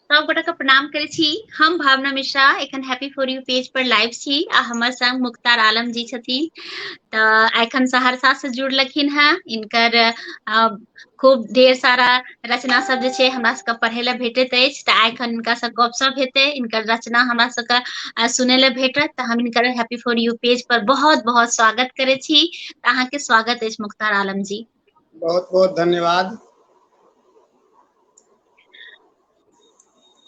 सब गोटा के प्रणाम करे छी हम भावना मिश्रा एखन हैप्पी फॉर यू पेज पर लाइव छी आ हमर संग मुख्तार आलम जी छथिन तऽ एखन सहरसा से जुड़लखिन हैं इनकर खूब ढेर सारा रचना सब जे छै हमरा सबके पढ़े ले भेटैत अछि तऽ आइ एखन हिनका से गपशप हेतै इनकर रचना हमरा सबके सुनै ले भेटत तऽ हम इनकर हैप्पी फॉर यू पेज पर बहुत बहुत स्वागत करे छी तऽ अहाँके स्वागत अछि मुख्तार आलम जी बहुत बहुत धन्यवाद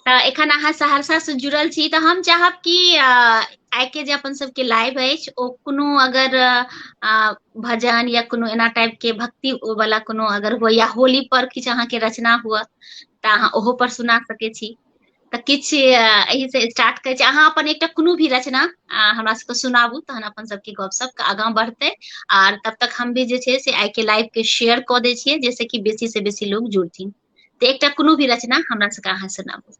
एखन अहाँ सहरसा से जुड़ल छी तऽ हम चाहब कि आइ के जे अपन सबके लाइव अछि ओ कोनो अगर भजन या कोनो एना टाइप के भक्ति वाला कोनो अगर हो या होली पर किछु अहाँके रचना हुआ तऽ अहाँ ओहो पर सुना सकै छी तऽ किछु एहिसँ स्टार्ट करै छी अहाँ अपन एकटा कोनो भी रचना हमरा सबके सुनाबू तहन अपन सबके गपशप आगाँ बढ़तै आर तब तक हम भी जे छै से आइ के लाइव के शेयर कऽ दै छियै जाहिसँ कि बेसी से बेसी लोग जुड़थिन तऽ एकटा कोनो भी रचना हमरा सबके अहाँ सुनाबू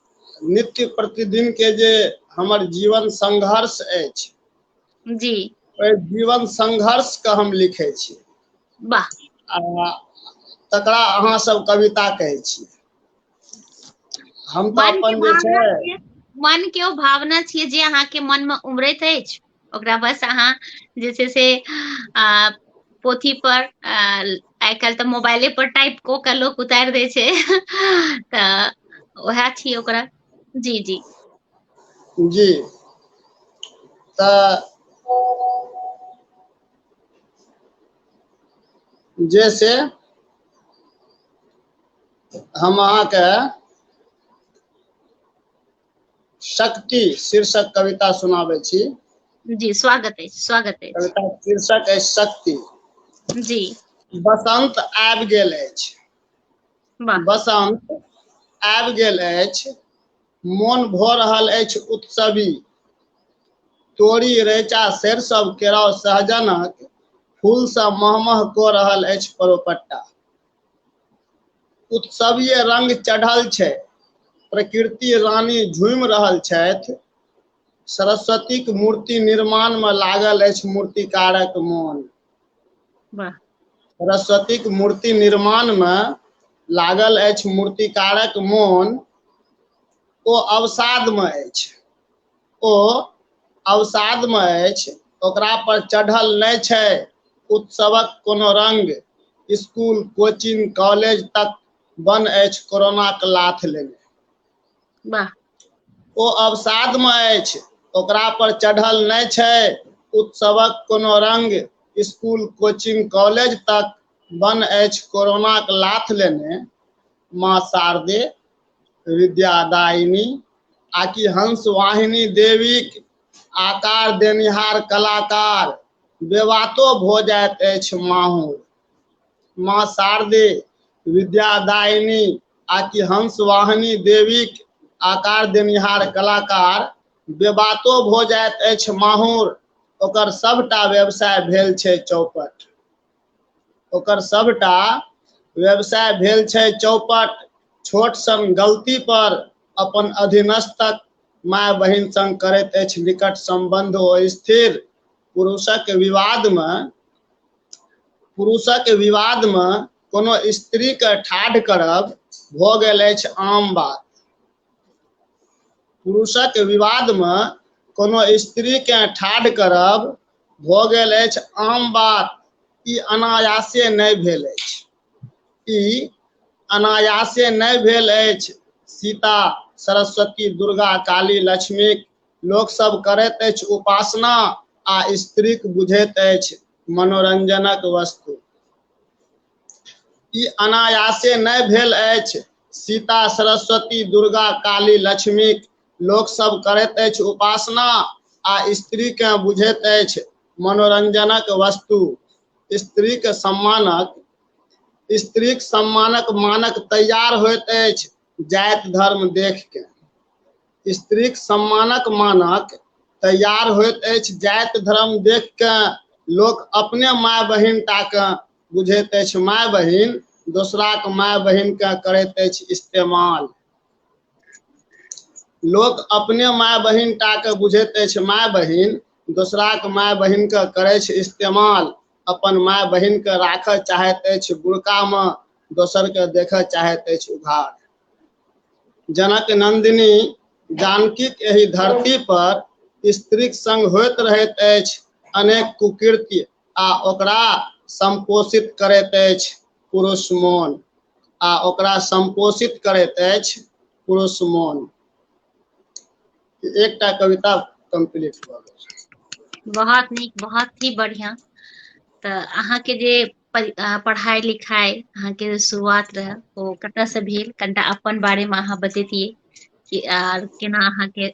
नित्य प्रतिदिन के जे हमर जीवन संघर्ष अछि जी ओहि जीवन संघर्ष के हम लिखे छी वाह आ तकरा अहाँ सब कविता कहै छी हम तऽ मन के अपन जे भावना छै छियै मन के ओ भावना छियै जे अहाँके मन मे उमड़ैत अछि ओकरा बस अहाँ जे छै से आ पोथी पर आ आइ काल्हि तऽ मोबाइले पर टाइप कऽ के लोक उतारि दै छै तऽ उएह छियै ओकरा जी जी जी तऽ जे से हम अहाँके शक्ति शीर्षक कविता सुनाबै छी जी स्वागत अछि स्वागत अछि कविता शीर्षक अछि शक्ति जी बसंत आबि गेल अछि वाह बसंत आबि गेल अछि मोन भऽ रहल अछि उत्सवी तोरी रैचा सरिसव केराव सहजनक फूलसँ महमह कऽ रहल अछि परोपट्टा उत्सवीय रंग चढ़ल छै प्रकृति रानी झूमि रहल छथि सरस्वतीक मूर्ति निर्माण में लागल अछि मूर्तिकारक मोन वाह सरस्वतीक मूर्ति निर्माण में लागल अछि मूर्तिकारक मोन ओ अवसाद में अछि ओ अवसादमे अछि ओकरा पर चढ़ल नहि छै उत्सवक कोनो रंग स्कूल कोचिंग कॉलेज तक बन अछि कोरोनाक लाथ लेने वाह ओ अवसादमे अछि ओकरा पर चढ़ल नहि छै उत्सवक कोनो रंग स्कूल कोचिंग कॉलेज तक बन अछि कोरोनाक लाथ लेने माँ शारदे विद्यादायिनी आ कि हंस वाहिनी देवीक आकार देनिहार कलाकार बेवातो भऽ जाइत अछि माहूर माँ शारदे विद्यादायिनी आ कि हंस वाहिनी देवीक आकार देनिहार कलाकार बेबातो भऽ जाइत अछि माहूर ओकर सभटा व्यवसाय भेल छै चौपट ओकर सभटा व्यवसाय भेल छै चौपट छोट सन गलती पर अपन अधीनस्थक माय बहिन संग करैत अछि निकट सम्बन्ध ओ स्थिर पुरुषक विवादमे पुरुषक विवादमे कोनो स्त्रीके ठाढ़ करब भऽ गेल अछि आम बात पुरुषक विवादमे कोनो स्त्रीकेँ ठाढ़ करब भऽ गेल अछि आम बात ई अनायासे नहि भेल अछि ई अनायासे नहि भेल अछि सीता सरस्वती दुर्गा काली लक्ष्मीक लोकसभ करैत अछि उपासना आ स्त्रीक बुझैत अछि मनोरञ्जनक वस्तु ई अनायासे नहि भेल अछि सीता सरस्वती दुर्गा काली लक्ष्मी लोकसभ करैत अछि उपासना आ स्त्रीकेँ बुझैत अछि मनोरञ्जनक वस्तु स्त्रीक सम्मानक स्त्रीक सम्मानक मानक तैयार होइत अछि जाति धर्म देख के स्त्रीक सम्मानक मानक तैयार होइत अछि जाति धर्म देख के लोक अपने माय बहिन टा के बुझैत अछि माय बहिन दोसराक माय बहिन के करैत अछि इस्तेमाल लोक अपने माय बहिन टा के बुझैत अछि माय बहिन दोसराक माय बहिन के करै छै इस्तेमाल अपन माय बहिन के राखऽ चाहैत अछि बुड़का मे दोसर के देखऽ चाहैत अछि उघार जनक नंदिनी जानकीक एहि धरती पर स्त्रीक संग होइत रहैत अछि अनेक कुकृत्य आ ओकरा संपोषित करैत अछि पुरुष मोन आ ओकरा संपोषित करैत अछि पुरुष मोन एकटा कविता कंप्लीट भऽ गेल बहुत नीक बहुत ही बढ़िया तऽ अहाँके जे पढ़ाई लिखाई अहाँके जे शुरुआत रहै ओ कतऽ से भेल कनिटा अपन बारे मे अहाँ बतैतियै कि आर केना अहाँके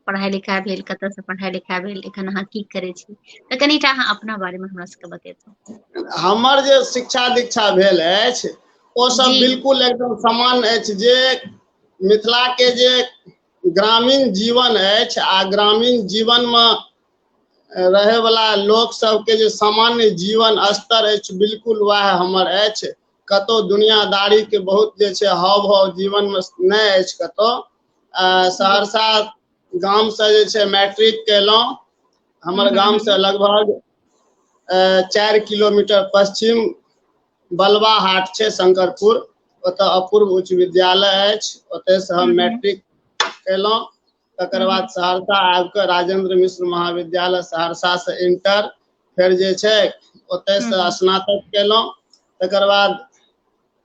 पढ़ाइ लिखाइ भेल कतयसँ पढ़ाइ लिखाइ भेल एखन अहाँ की करै छी तऽ कनिटा अहाँ अपना बारेमे हमरा सबके बतेब हमर जे शिक्षा दीक्षा भेल अछि ओ सब जी बिलकुल एकदम समान अछि जे मिथिला के जे ग्रामीण जीवन अछि आ ग्रामीण जीवन मे रहय वला लोक सब के जे सामान्य जीवन स्तर अछि बिलकुल वएह हमर अछि कतहु दुनियादारी के बहुत जे छै हाव भाव जीवन मे नहि अछि कतहु सहरसा गामसँ जे छै मैट्रिक कयलहुँ हमर हम्म। गामसँ लगभग चारि किलोमीटर पश्चिम बलवा हाट छै शंकरपुर ओतऽ अपूर्व उच्च विद्यालय अछि ओतयसँ हम हम्म। मैट्रिक कयलहुँ तकर बाद हम्म। सहरसा आबि कऽ राजेंद्र मिश्र महाविद्यालय सहरसासँ इंटर फेर जे छै ओतयसँ स्नातक कयलहुँ तकर बाद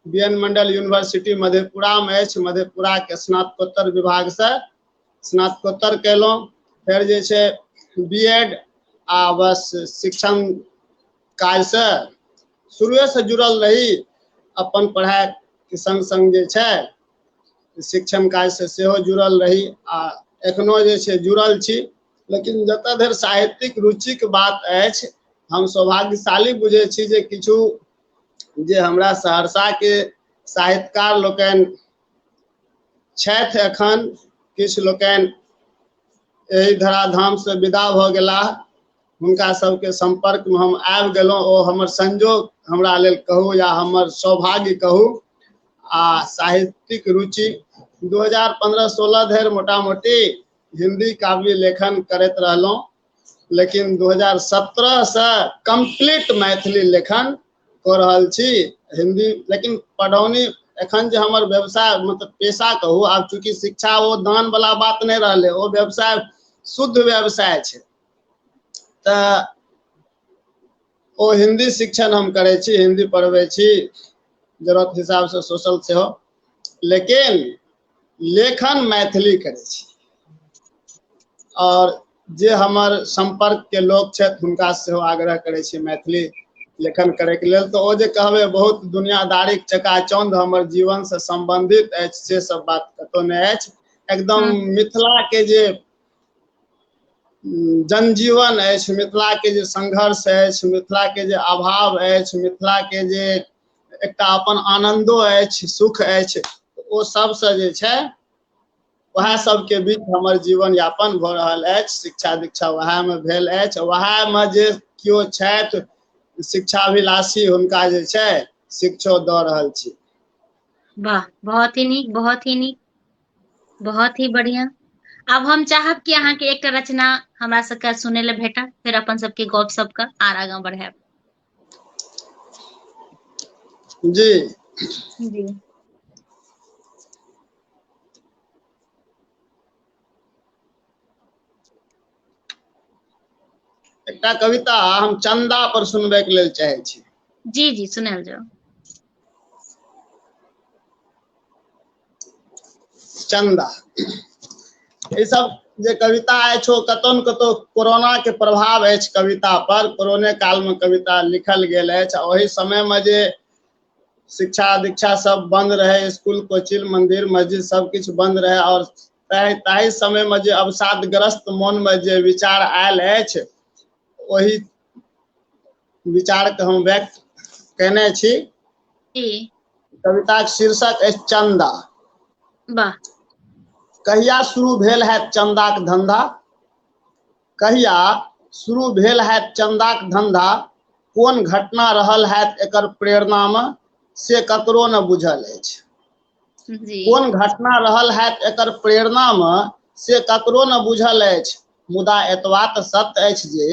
बी एन मंडल यूनिवर्सिटी मधेपुरामे अछि मधेपुराके स्नातकोत्तर विभागसँ स्नातकोत्तर कयलहुँ फेर जे छै बी एड आ बस शिक्षण काजसँ शुरुएसँ जुड़ल रही अपन पढ़ाइके सङ्ग सङ्ग जे छै शिक्षण काजसँ सेहो जुड़ल रही आ एखनो जे छै जुड़ल छी लेकिन जतऽ धरि साहित्यिक रुचिक बात अछि हम सौभाग्यशाली बुझै छी जे किछु जे हमरा सहरसाके साहित्यकार लोकनि छथि एखन किछु लोकनि एहि धराधामसँ विदा भऽ गेलाह हुनका सबके सम्पर्कमे हम आबि गेलहुँ ओ हमर संजोग हमरा लेल कहू या हमर सौभाग्य कहू आ साहित्यिक रुचि 2015-16 धरि मोटा मोटी हिंदी काव्य लेखन करैत रहलहुँ लेकिन दू हजार सत्रहसँ कम्प्लीट मैथिली लेखन कऽ रहल छी हिन्दी लेकिन पढ़ौनी एखन जे हमर व्यवसाय मतलब पेशा कहू आब चूँकि शिक्षा ओ दानवला बात नहि रहलै ओ व्यवसाय शुद्ध व्यवसाय छै तऽ ओ हिन्दी शिक्षण हम करै छी हिन्दी पढ़बै छी जरूरत हिसाबसँ सोशल सेहो लेकिन लेखन मैथिली करै छी आओर जे हमर सम्पर्कके लोक छथि हुनका सेहो आग्रह करै छी मैथिली लेखन करैके लेल तऽ ओ जे कहबै बहुत दुनियादारीक चकाचौंध हमर जीवनसँ सम्बन्धित अछि से सब बात कतहु नहि अछि एकदम हम्म। मिथिलाके जे जनजीवन अछि मिथिलाके जे संघर्ष अछि मिथिलाके जे अभाव अछि मिथिलाके जे एकटा अपन आनन्दो अछि सुख अछि ओ सबसँ जे छै वएह सबके बीच हमर जीवन यापन भऽ रहल अछि शिक्षा दीक्षा वएहमे भेल अछि वएहमे जे केओ छथि शिक्षाभिलाषी हुनका जे छै शिक्षो दऽ रहल छी वाह बहुत ही नीक बहुत ही नीक बहुत ही बढ़िया आब हम चाहब कि अहाँके एकटा रचना हमरा सबके सुनै लए भेटा फेर अपन सबके गप सबके आर आगाँ बढ़ायब जी जी एकटा कविता हम चंदा पर सुनबे के लेल चाहे छी जी जी सुनायल जाओ चंदा ई सब जे कविता अछि ओ कतौ ने कतौ कोरोना के प्रभाव अछि कविता पर कोरोने काल में कविता लिखल गेल अछि ओहि समय में जे शिक्षा दीक्षा सब बंद रहे स्कूल कोचिंग मंदिर मस्जिद सब कुछ बंद रहे और ताहि ताहि समय में जे अवसादग्रस्त मन में जे विचार आयल अछि ओहि विचारके हम व्यक्त केने छी कविताक शीर्षक अछि चंदा वाह कहिया शुरू भेल है चंदाक धंधा कहिया शुरू भेल है चंदाक धंधा कोन घटना रहल है एकर प्रेरणामे से ककरो ने बुझल अछि जी कोन घटना रहल हैत एकर प्रेरणा मे से ककरो ने बुझल अछि मुदा एतबा तऽ सत्य अछि जे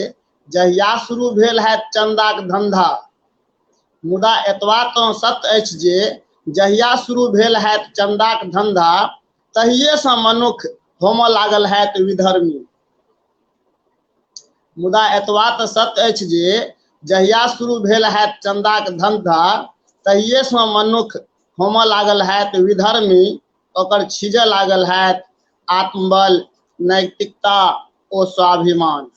जहिया शुरू भेल हैत चन्दाक धन्धा मुदा एतबा तऽ सत्य अछि जे जहिया शुरू भेल हैत चन्दाक धन्धा तहिएसँ मनुख होमऽ लागल हैत विधर्मी मुदा एतबा तऽ सत्य अछि जे जहिया शुरू भेल हैत चन्दाक धन्धा तहिएसँ मनुख होमऽ लागल हैत विधर्मी ओकर छीजऽ लागल हैत आत्मबल नैतिकता ओ स्वाभिमान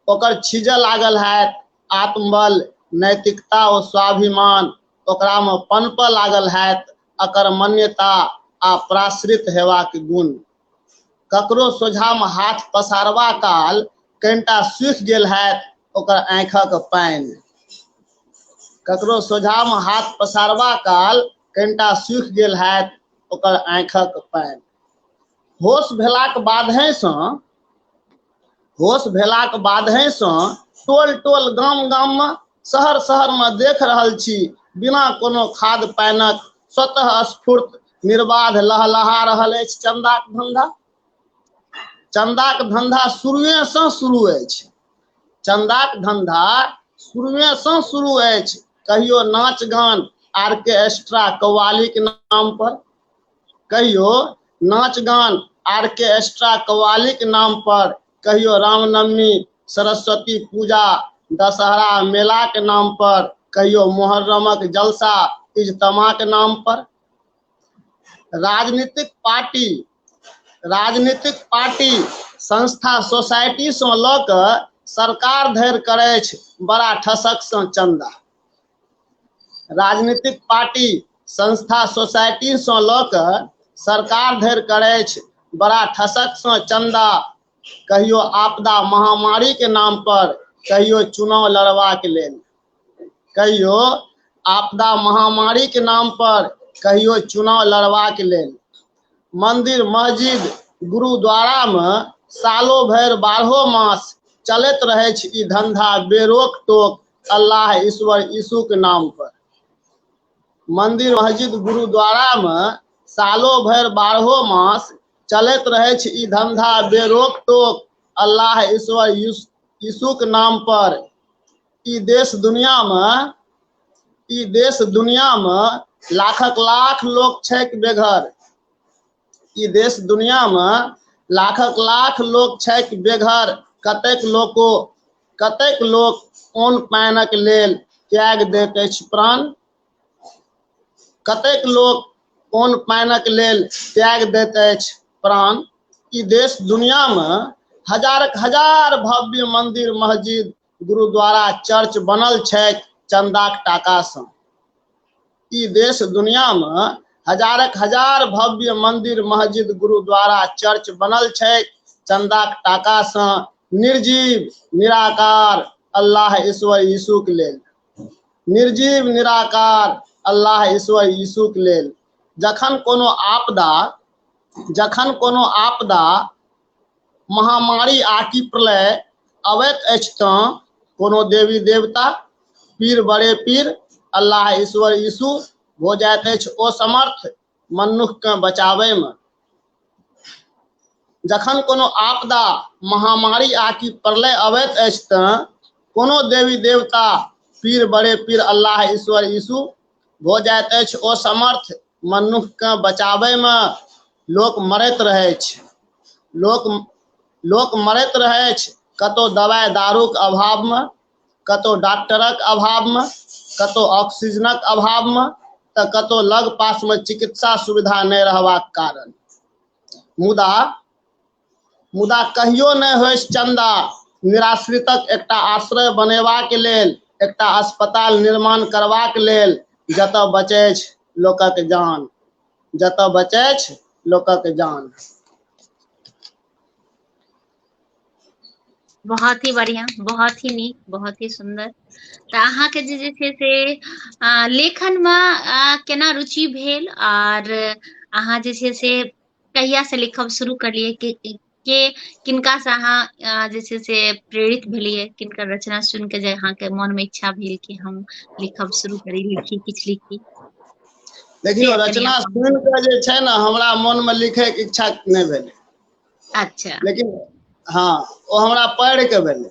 ओकर छीजऽ लागल हैत आत्मबल नैतिकता ओ स्वाभिमान ओकरामे पनपऽ लागल हैत अकर मान्यता आ प्राश्रित हेबाक गुण ककरो सोझामे हाथ पसारबा काल कनिटा सूखि गेल हैत ओकर आँखिक पानि ककरो सोझामे हाथ पसारबा काल कनिटा सूखि गेल हैत ओकर आँखिक पानि होश भेलाक बादहेसँ होश भेलाक बादहे सँ टोल टोल गाम गाममे शहर शहरमे देख रहल छी बिना कोनो खाद पानिक स्वतः स्फूर्त निर्बाध लहलहा रहल अछि चन्दाक धन्धा चन्दाक धन्धा शुरुएसँ शुरू अछि चन्दाक धन्धा शुरुएसँ शुरू अछि कहियो नाच गान आर्केस्ट्रा कौवालीक नाम पर कहियो नाच गान आर के एक्स्ट्रा कवालीक नाम पर कहियो रामनवमी सरस्वती पूजा दशहरा मेलाक नाम पर कहियो मोहर्रमक जलसा इजतमाक नाम पर राजनीतिक पार्टी राजनीतिक पार्टी संस्था सोसाइटी से लऽ कऽ सरकार धरि करै अछि बड़ा ठसक से चंदा राजनीतिक पार्टी संस्था सोसाइटीसँ लऽ कऽ सरकार धरि करैछ बड़ा ठसकसँ चन्दा कहियो आपदा महामारीके नाम पर कहियो चुनाव लड़बाक लेल कहियो आपदा महामारीके नाम पर कहियो चुनाव लड़बाक लेल मंदिर मस्जिद गुरुद्वारामे सालो भरि बारहो मास चलैत रहैछ ई धंधा बेरोक टोक अल्लाह ईश्वर यीशु के नाम पर मंदिर मस्जिद गुरुद्वारा मे सालो भरि बारहो मास चलैत रहै छै ई धंधा बेरोक टोक अल्लाह ईश्वर यीशु के नाम पर ई देश दुनिया मे ई देश दुनिया मे लाखक लाख लोक छैक बेघर ई देश दुनियामे लाखक लाख लोक छैक बेघर कतेक लोको कतेक लोक ओन पानिक लेल त्याग दैत अछि प्राण कतेक लोक ओन पानिक लेल त्याग दैत अछि प्राण ई देश दुनियामे हजारक हजार भव्य मंदिर मस्जिद गुरुद्वारा चर्च बनल छै चन्दाक टाकासँ ई देश दुनियामे हजारक हजार भव्य मन्दिर मस्जिद गुरुद्वारा चर्च बनल छै चन्दाक टाकासँ निर्जीव निराकार अल्लाह ईश्वर यीशुक लेल निर्जीव निराकार अल्लाह ईश्वर यीशुक लेल जखन कोनो आपदा जखन कोनो आपदा महामारी आकि प्रलय अबैत अछि तँ कोनो देवी देवता पीर बड़े पीर अल्लाह ईश्वर यीशु भऽ जाइत अछि ओ समर्थ मनुखकेँ बचाबैमे जखन कोनो आपदा महामारी आकि प्रलय अबैत अछि तँ कोनो देवी देवता पीर बड़े पीर अल्लाह ईश्वर यीशु भऽ जाइत अछि ओ समर्थ मनुष्यके बचाबैमे लोक मरैत रहै अछि लोक लोक मरैत रहै अछि कतहु दवाइ दारूक अभावमे कतहु डॉक्टरक अभावमे कतहु ऑक्सीजनक अभावमे तऽ कतहु लग पासमे चिकित्सा सुविधा नहि रहबाक कारण मुदा मुदा कहियो नहि होइस चन्दा निराश्रितक एकटा आश्रय बनेबाक लेल एकटा अस्पताल निर्माण करबाक लेल जतऽ बचै लोकक जान जतऽ बचै लोकक जान बहुत ही बढ़िया बहुत ही नीक बहुत ही सुंदर तऽ अहाँके जे जे छै से लेखनमे केना रुचि भेल आर अहाँ जे छै से कहिया से लिखब शुरू करलियै कि के किनका से अहाँ जे छै से प्रेरित भेलियै किनकर रचना सुनि के जे अहाँके मन मे इच्छा भेल कि हम लिखब शुरू करी लिखी किछु लिखी देखियौ रचना सुनि कऽ जे छै ने हमरा मनमे लिखैके इच्छा नहि भेलै अच्छा लेकिन हँ ओ हमरा पढ़ि कऽ भेलै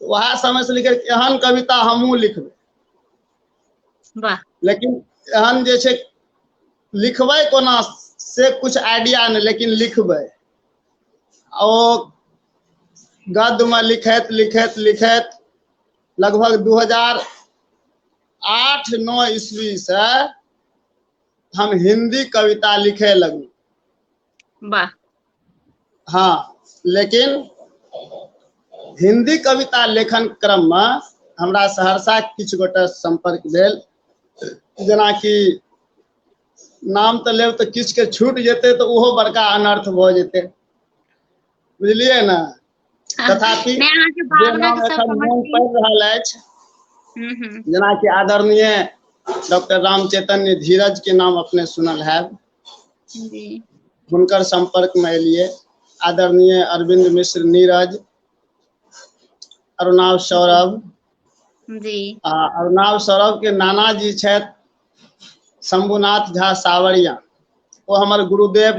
उएह समय से लिखे एहन कविता हमहूँ लिखबै वाह लेकिन एहन जे छै लिखबै कोना से कुछ आइडिया नहि लेकिन लिखबै ओ गद्यमे लिखैत लिखैत लिखैत लगभग दू हजार आठ नौ ईस्वी से हम हिंदी कविता लिखे लगलहुँ वाह हँ लेकिन हिन्दी कविता लेखन क्रममे हमरा सहरसा किछु गोटे सम्पर्क भेल जेनाकि नाम तऽ लेब तऽ किछुके छूट जेतै तऽ ओहो बड़का अनर्थ भऽ जेतै बुझलियै ने तथापि जे नाम एखन मोन पड़ि रहल अछि हम्म, हम्म। जेनाकि आदरणीय डॉक्टर राम चैतन्य धीरज के नाम अपने सुनल है हुनकर संपर्क में एलिए आदरणीय अरविंद मिश्र नीरज अरुणाव सौरभ जी आ अरुणाव सौरभ के नाना जी छे शंभुनाथ झा सावरिया वो हमारे गुरुदेव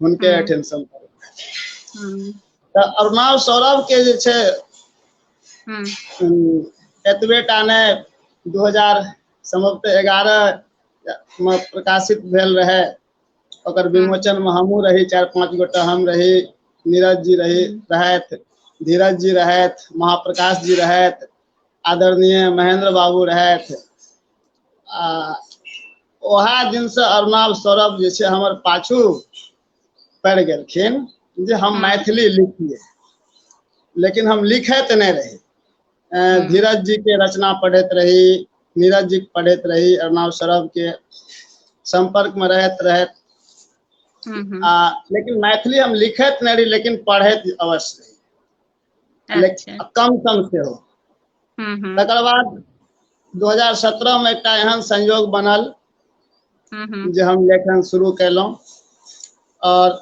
हुनके हँ एठन सम हँ तऽ अरनाब सौरभ के जे छै हँ हू एतबे टा नै दू हजार समबते एगारह मे प्रकाशित भेल रहै ओकर हँ विमोचन मे हमहुँ रही चार पाँच गोटा हम रही नीरज जी रही हँ रहैथ धीरज जी रहैथ महा प्रकाश जी रहैथ आदरणीय महेन्द्र बाबू रहैथ आ ओएह दिनसँ अरुणाल सौरभ जे छै हमर पाछू पड़ि गेलखिन जे हम मैथिली लिखिए लेकिन हम लिखे तऽ नहि रही अ, धीरज जी के रचना पढ़ैत रही नीरज जी के पढ़ैत रही अरुणाल सौरभ के संपर्क में रहैत रहैत हम्म, हम्म, आ लेकिन मैथिली हम लिखैत नहि रही लेकिन पढ़ैत अवश्य रही अच्छा कम कम सेहो हूँ हूँ तकर बाद दू हजार सत्रह मे एकटा एहन संयोग बनल हूँ हूँ जे हम लेखन शुरू कयलहुँ आओर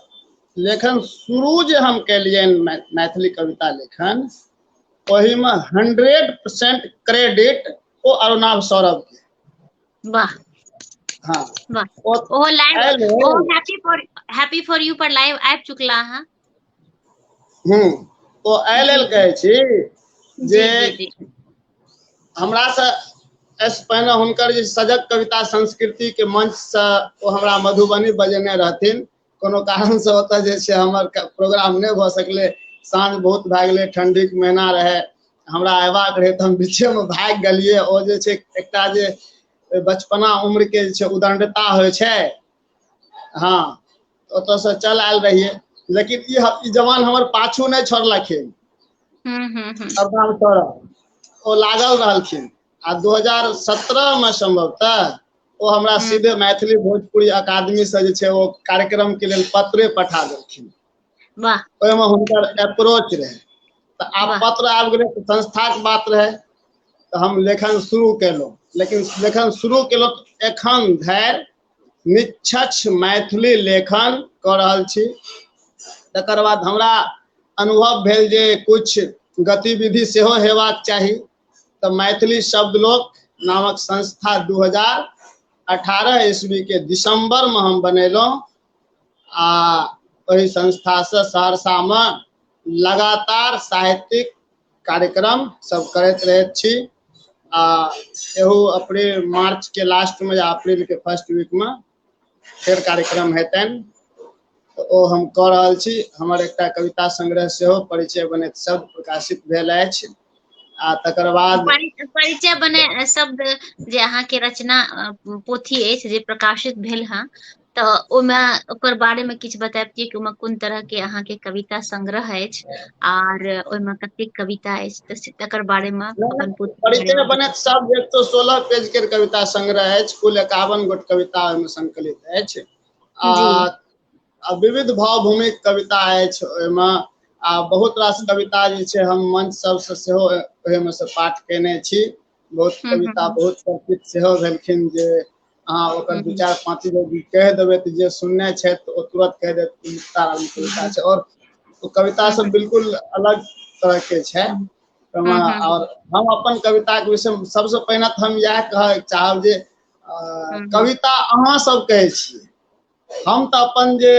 लेखन शुरू जे हम केलियनि मै- मैथिली कविता लेखन ओहिमे हंड्रेड परसेंट क्रेडिट ओ अरुणाभ सौरभ के वाह हँ वाह ओ ओहो लाइव आयल रहै। ओहो happy for happy for you पर लाइव आबि चुकला अहाँ हम्म तो एहि लेल कहै छी जे जी जी जी हमरा से एहिसँ पहिने हुनकर जे सजग कविता संस्कृति के मंच से ओ हमरा मधुबनी बजेने रहथिन कोनो कारण से ओतऽ जे छै हमर क- प्रोग्राम नहि भऽ सकलै साँझ बहुत भए गेलै ठंडीक महीना रहै हमरा अयबाक रहै तऽ हम बीचेमे भागि गेलियै ओ जे छै एकटा जे बचपना उम्रके जे छै उदंडता होइ छै हाँ ओतऽ से चल आयल रहिए लेकिन ई ह- ई जवान हमर पाछू नहीं छोड़लखिन हम्म हम्म हम्म सरदार सौरभ ओ लागल रहलखिन आ 2017 में संभवतः ओ हमरा हम्म। सीधे मैथिली भोजपुरी अकादमी से जे छै ओ कार्यक्रम के लेल पत्रे पठा देलखिन वाह ओहिमे हुनकर अप्रोच रहै तऽ आब वाह। पत्र आबि गेलै तऽ संस्थाक बात रहै तऽ हम लेखन शुरू केलहुँ लेकिन लेखन शुरू केलहुँ तऽ एखन धरि निष्क्ष मैथिली लेखन कऽ रहल छी तकर बाद हमरा अनुभव भेल जे कुछ गतिविधि सेहो हेबाक चाही तऽ मैथिली शब्द लोक नामक संस्था दू हजार अठारह ईस्वीके दिसम्बरमे हम बनेलहुँ आ ओहि संस्थासँ सहरसामे लगातार साहित्यिक कार्यक्रम सब करैत रहैत छी आ एहो अप्रैल मार्च के लास्ट में या अप्रैल के फर्स्ट वीक में फेर कार्यक्रम हेतन तऽ ओ हम कऽ रहल छी हमर एकटा कविता संग्रह सेहो परिचय बनैत शब्द प्रकाशित भेल अछि आ तकर बाद परि- परिचय बने शब्द जे अहाँके रचना अ, पोथी अछि जे प्रकाशित भेल हँ तऽ ओहिमे ओकर बारे मे किछु बताब कि ओहिमे कोन तरह के अहाँके कविता संग्रह अछि आर ओहिमे कतेक कविता अछि तऽ तकर बारे मे अपन बने सब एक सए सोलह पेज के कविता संग्रह अछि कुल एकावन गोट कविता ओहिमे संकलित अछि आ आ विविध भाव भूमि कविता अछि ओहिमे आ बहुत रास कविता जे छै हम मंच सबसँ सेहो ओहिमे से पाठ केने छी बहुत हूँ हूँ कविता हूँ बहुत चर्चित सेहो भेलखिन जे अहाँ ओकर हूँ दू हूँ चारि पाँच गो गीत कहि देबै तऽ जे सुनने छथि तऽ ओ तुरत कहि देत कि मुख्तार अली हूँ कविता हूँ छै आओर ओ कविता हूँ सब हूँ बिलकुल अलग तरह के छै हूँ हूँ हूँ हूँ आओर हम अपन कविता के विषय मे सबसँ पहिने तऽ हम इएह कहय चाहब जे अ हूँ हूँ कविता अहाँ सब कहै छी हम तऽ अपन जे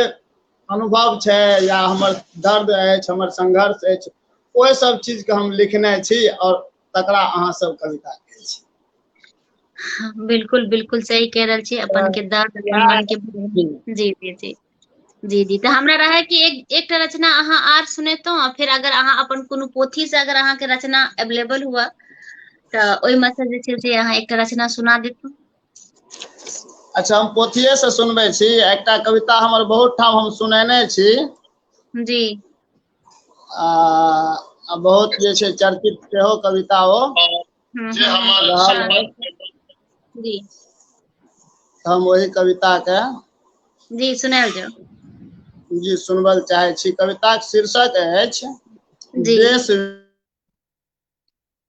अनुभव छै या हमर दर्द अछि हमर संघर्ष अछि ओहि सब चीज के हम लिखने छी आओर तकरा अहाँ सब कविता कहै छी हाँ, बिल्कुल बिल्कुल सही कह रहल छी अपन के दर्द अपन मन के जी जी जी जी जी तऽ हमरा रहै कि एक एकटा रचना अहाँ आर सुनेतहुँ आ फेर अगर अहाँ अपन कोनो पोथी से अगर अहाँके रचना अवेलेबल हुआ तऽ ओहिमे से जे छै से अहाँ एकटा रचना सुना देतहुँ अच्छा हम पोथिये से सुनबै छी एकटा कविता हमर बहुत ठाम हम सुनेने छी जी आ आ बहुत जे छै चर्चित सेहो कविता ओ हम्म, जे हम्म, हमार रहल शान। है जी हम वही कविता के जी सुनायल जाओ जी सुनबल चाहे छी कविताक शीर्षक अछि जी देश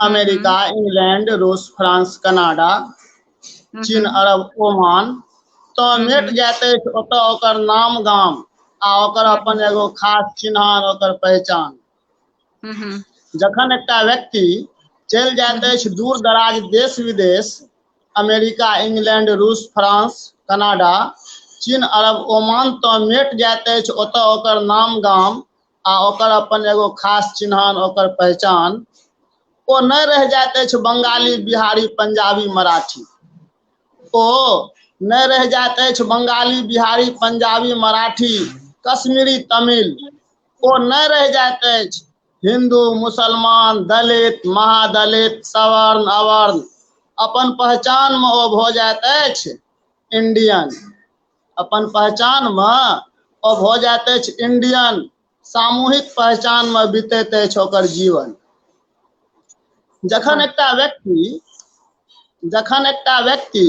अमेरिका इंग्लैंड रूस फ्रांस कनाडा चीन अरब ओमान तऽ भेट जाइत अछि ओतऽ ओकर नाम गाम आ ओकर अपन एगो खास चिन्हान ओकर पहचान जखन एकटा व्यक्ति चलि जाइत अछि दूर दराज देश विदेश अमेरिका इंग्लैंड रूस फ्रांस कनाडा चीन अरब ओमान तऽ मेट जाइत अछि ओतऽ ओकर नाम गाम आ ओकर अपन एगो खास चिन्हान ओकर पहचान ओ नहि रहि जाइत अछि बंगाली बिहारी पंजाबी मराठी ओ नहि रहि जाइत अछि बंगाली बिहारी पंजाबी मराठी कश्मीरी तमिल ओ नहि रहि जाइत अछि हिंदू मुसलमान दलित महादलित सवर्ण अवर्ण अपन पहचानमे ओ भऽ जाइत अछि इंडियन अपन पहचानमे ओ भऽ जाइत अछि इंडियन सामूहिक पहचानमे बीतैत अछि ओकर जीवन जखन एकटा व्यक्ति जखन एकटा व्यक्ति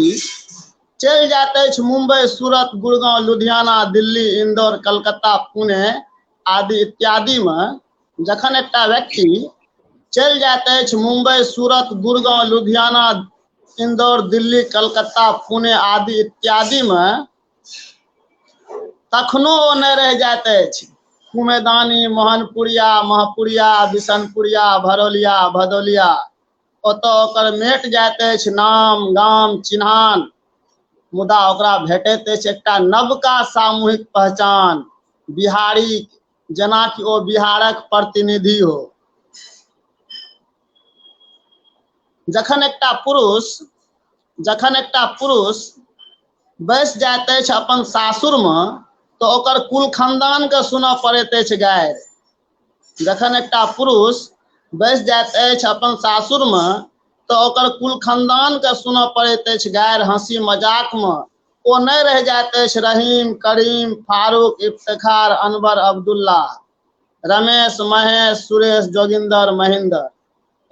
चलि जाइत अछि मुंबई सूरत गुड़गांव लुधियाना दिल्ली इंदौर कलकत्ता पुणे आदि इत्यादिमे जखन एकटा व्यक्ति चलि जाइत अछि मुंबई सूरत गुड़गांव लुधियाना इंदौर दिल्ली कलकत्ता पुणे आदि इत्यादि मे तखनो ओ नहि रहि जाइत अछि कुमेदानी मोहनपुरिया महपुरिया बिशनपुरिया भरौलिया भदौलिया ओतऽ ओकर मेट जाइत अछि नाम गाम चिन्हान मुदा ओकरा भेटैत अछि एकटा नवका सामूहिक पहचान बिहारी जेनाकि ओ बिहारक प्रतिनिधि हो जखन एकटा पुरुष जखन एकटा पुरुष बैस जाइत अछि अपन सासुरमे तऽ ओकर कुल खानदानके सुनऽ पड़ैत अछि गारि जखन एकटा पुरुष बैस जाइत अछि अपन सासुरमे तऽ ओकर कुल खानदानके सुनऽ पड़ैत अछि गारि हँसी मजाकमे ओ नहि रहि जाइत अछि रहीम करीम फारूक इफ्तार अनवर अब्दुल्ला रमेश महेश सुरेश जोगिन्दर महेन्द्र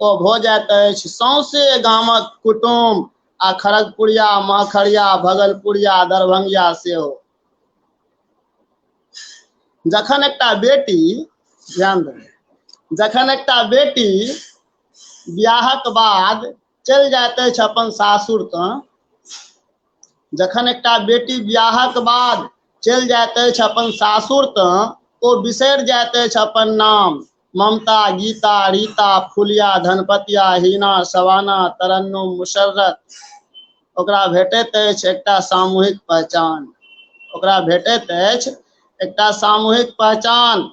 ओ भऽ जाइत अछि सौंसे गामक कुटुम आ खड़गपुरिया महखरिया भगलपुरिया दरभंगिया सेहो जखन एकटा बेटी ध्यान देबै जखन एकटा बेटी बियाहक बाद चलि जाइत अछि अपन सासुर तऽ जखन एकटा बेटी बियाहक बाद चलि जाइत अछि अपन सासुर तऽ ओ बिसरि जाइत अछि अपन नाम ममता गीता रीता फुलिया धनपतिया हीना सवाना तरन्नुम मुशर्रत ओकरा भेटैत अछि एकटा सामूहिक पहचान ओकरा भेटैत अछि एकटा सामूहिक पहचान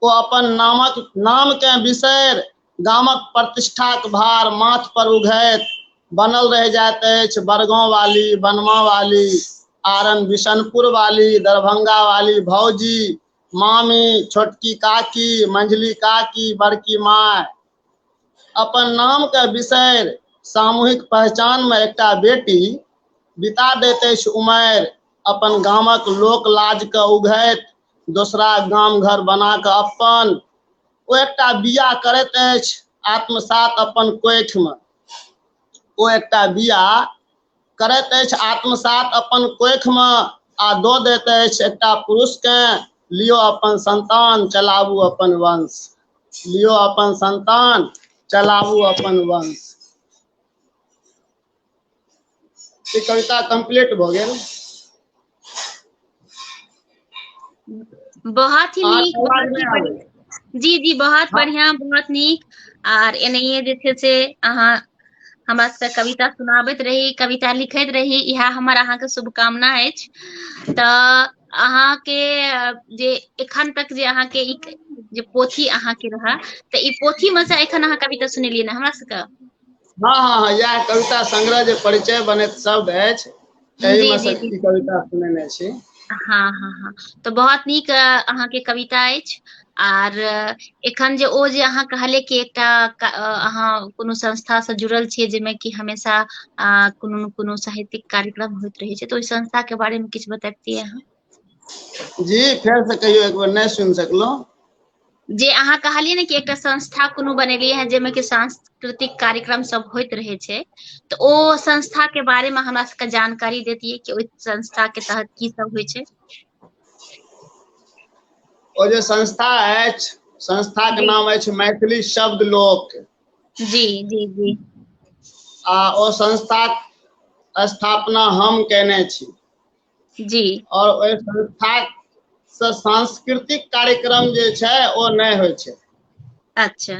ओ अपन नामक नामकेँ बिसरि गामक प्रतिष्ठाक भार माथ पर उघैत बनल रह जाइत अछि बड़गांव वाली बनवा वाली आरन बिशनपुर वाली दरभंगा वाली भौजी मामी छोटकी काकी मंझली काकी बड़की माय अपन नाम के बिसरि सामूहिक पहचान में एकटा बेटी बिता दैत अछि उमर अपन गामक लोक लाज के उघैत दोसरा गाम घर बना कऽ अपन ओ एकटा बिया करैत अछि आत्मसात अपन कोठिमे ओ एकटा बिया करैत अछि आत्मसात अपन कोखिमे आ दऽ दैत अछि एकटा पुरुषकेँ लियो अपन संतान चलाबू अपन वंश लियो अपन संतान चलाबू अपन वंश ई कविता कंप्लीट भऽ गेल बहुत ही आठ नीक आवाज बहुत ही नहि बढ़िया। आबै। जी जी बहुत बढ़िया बहुत नीक आर एनाहिए जे छै से अहाँ हमरा सबके कविता सुनाबैत रही कविता लिखैत रही इएह हमर अहाँके शुभकामना अछि तऽ अहाँके अ, जे एखन तक जे अहाँके ई जे पोथी अहाँके रहए तऽ ई पोथीमे से एखन अहाँ कविता सुनेलियै ने हमरा सबके हँ हँ हँ इएह कविता संग्रह जे परिचय बनैत शब्द अछि जी तहिमे जी सँ जी किछु कविता सुनेने छी हँ हँ हँ तऽ बहुत नीक अहाँके कविता अछि आर एखन जे ओ जे अहाँ कहलिय कि एकटा अहाँ कोनो संस्था से जुड़ल छियै जाहिमे कि हमेशा आ कोनो ने कोनो साहित्यिक कार्यक्रम होइत रहै छै तऽ ओहि संस्था के बारे मे किछु बतेब ती अहाँ जी फेर से कहियौ एक बेर नहि सुनि सकलहुँ जे अहाँ कहलियै ने कि एकटा संस्था कोनो बनेलियै हेँ जाहिमे कि सांस्कृतिक कार्यक्रम सब होइत रहै छै तऽ ओ संस्था के बारे मे हमरा सबके जानकारी देैतियै कि ओहि संस्था के तहत की सब होइ छै ओ जे संस्था अछि संस्था के जी नाम अछि मैथिली शब्द लोक जी जी जी आ ओ संस्थाक स्थापना हम केने छी जी आओर ओहि संस्थासँ सांस्कृतिक कार्यक्रम जे छै ओ नहि होइ छै अच्छा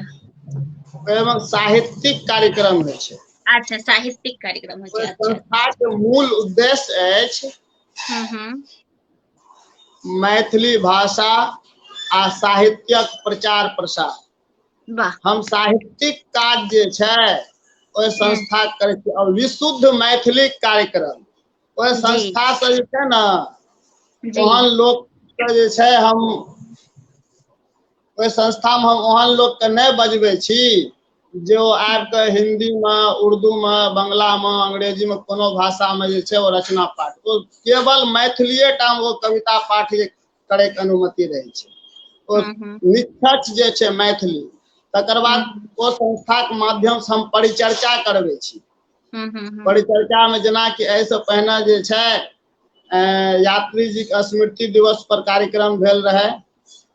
ओहिमे साहित्यिक कार्यक्रम होइ छै अच्छा साहित्यिक कार्यक्रम होइ ओहि छै अच्छा संस्थाके मूल उद्देश्य अछि हूँ हूँ मैथिली भाषा आ साहित्यक प्रचार प्रसार वाह हम साहित्यिक काज जे छै ओहि संस्था करै छी आओर विशुद्ध मैथिलीक कार्यक्रम ओहि जी संस्था स जे छै न जी ओहन लोक के जे छै हम ओहि संस्था मे हम ओहन लोक के नहि बजबै छी जे ओ आब के हिन्दी मे उर्दू मे बंगला मे अंग्रेजी मे कोनो भाषा मे जे छै ओ रचना पाठ केवल मैथिलीए टा मे ओ कविता पाठ जे करैके अनुमति रहै छै ओ हम्म, हम्म। निष्कर्ष जे छै मैथिली तकर बाद ओ संस्थाके माध्यमसँ हम परिचर्चा करबै छी हम्म, हम्म, हम्म। परिचर्चामे जेनाकि एहिसँ पहिने जे छै अ, यात्री जीके स्मृति दिवस पर कार्यक्रम भेल रहै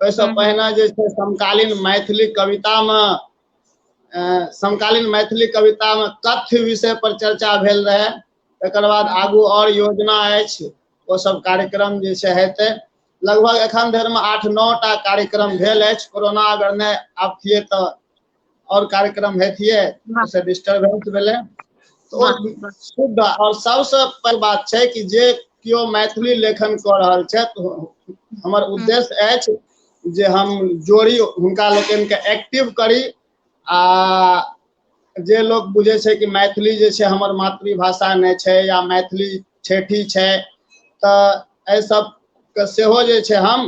ओहिसँ हम्म। पहिने जे छै समकालीन मैथिली कवितामे अ, समकालीन मैथिली कवितामे कथ्य विषय पर चर्चा भेल रहै तकर बाद आगू आओर योजना अछि ओ सब कार्यक्रम जे छै हेतै लगभग एखन धरिमे आठ नओ टा कार्यक्रम भेल अछि कोरोना अगर नहि आबतियै तऽ आओर कार्यक्रम हेतियै से डिस्टर्बेंस भेलै शुद्ध आओर सबसँ पैघ बात छै कि जे केओ मैथिली लेखन कऽ रहल छथि हमर हम्म। उद्देश्य अछि जे हम जोड़ी हुनका लोकनिके एक्टिव करी आ जे लोक बुझै छै कि मैथिली जे छै हमर मातृभाषा नहि छै या मैथिली ठेठी छै तऽ एहि सबके सेहो जे छै हम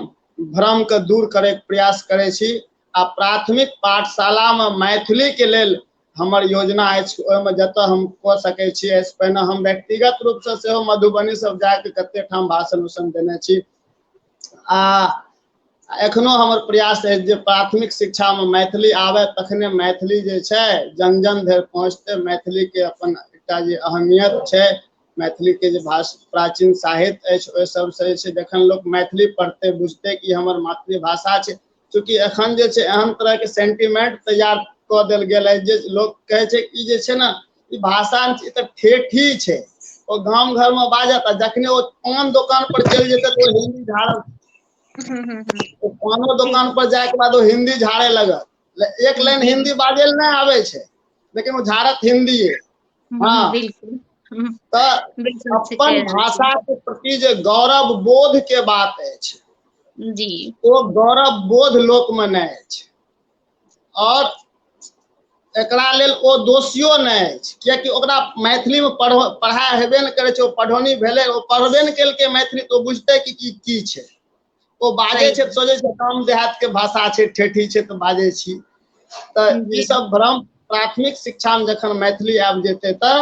भ्रमके दूर करैके प्रयास करै छी आ प्राथमिक पाठशालामे मैथिलीके लेल हमर योजना अछि ओहिमे जतऽ हम कऽ सकै छी एहिसँ पहिने हम व्यक्तिगत रूपसँ सेहो मधुबनी सब जाके कते ठाम भाषण उषण देने छी आ एखनो हमर प्रयास अछि जे प्राथमिक शिक्षामे मैथिली आबय तखने मैथिली जे छै जन जन धरि पहुँचतै मैथिलीके अपन एकटा जे अहमियत छै मैथिलीके जे भाष प्राचीन साहित्य अछि ओहि सभसँ जे छै जखन लोक मैथिली पढ़तै बुझतै कि हमर मातृभाषा छै चूँकि एखन जे छै एहन तरहके सेंटिमेंट तैयार कऽ देल गेल अछि जे लोक कहै छै कि जे छै ने ई भाषा ई तऽ ठेठी छै ओ गाम घरमे बाजत आ जखने ओ पान दोकान पर चलि जेतै तऽ ओ हिन्दी झाड़त हम्म, हम्म, हम्म। ओ पानो दोकान पर जायके बाद ओ हिन्दी झाड़े लगत ले- एक लाइन हिन्दी बाजै लए नहि आबै छै लेकिन ओ झाड़त हिन्दिये हँ हूँ बिलकुल हूँ तऽ बिलकुल से अपन कहि रहल छी भाषा के प्रति जे गौरव बोध के बात अछि जी ओ गौरव बोध लोक मे नहि अछि आओर एकरा लेल ओ दोषियो नहि अछि कियकि ओकरा मैथिली मे पढ़ पढ़ाइ हेबे नहि करै छै ओ पढ़ौनी भेलै ओ पढ़बे नहि केलकै मैथिली तऽ ओ बुझतै कि की की छै ओ बाजै छै सोचै छै काम देहात के भाषा छै ठेठी छै तऽ बाजै छी तऽ ई सब भ्रम प्राथमिक शिक्षा मे जखन मैथिली आबि जेतै तऽ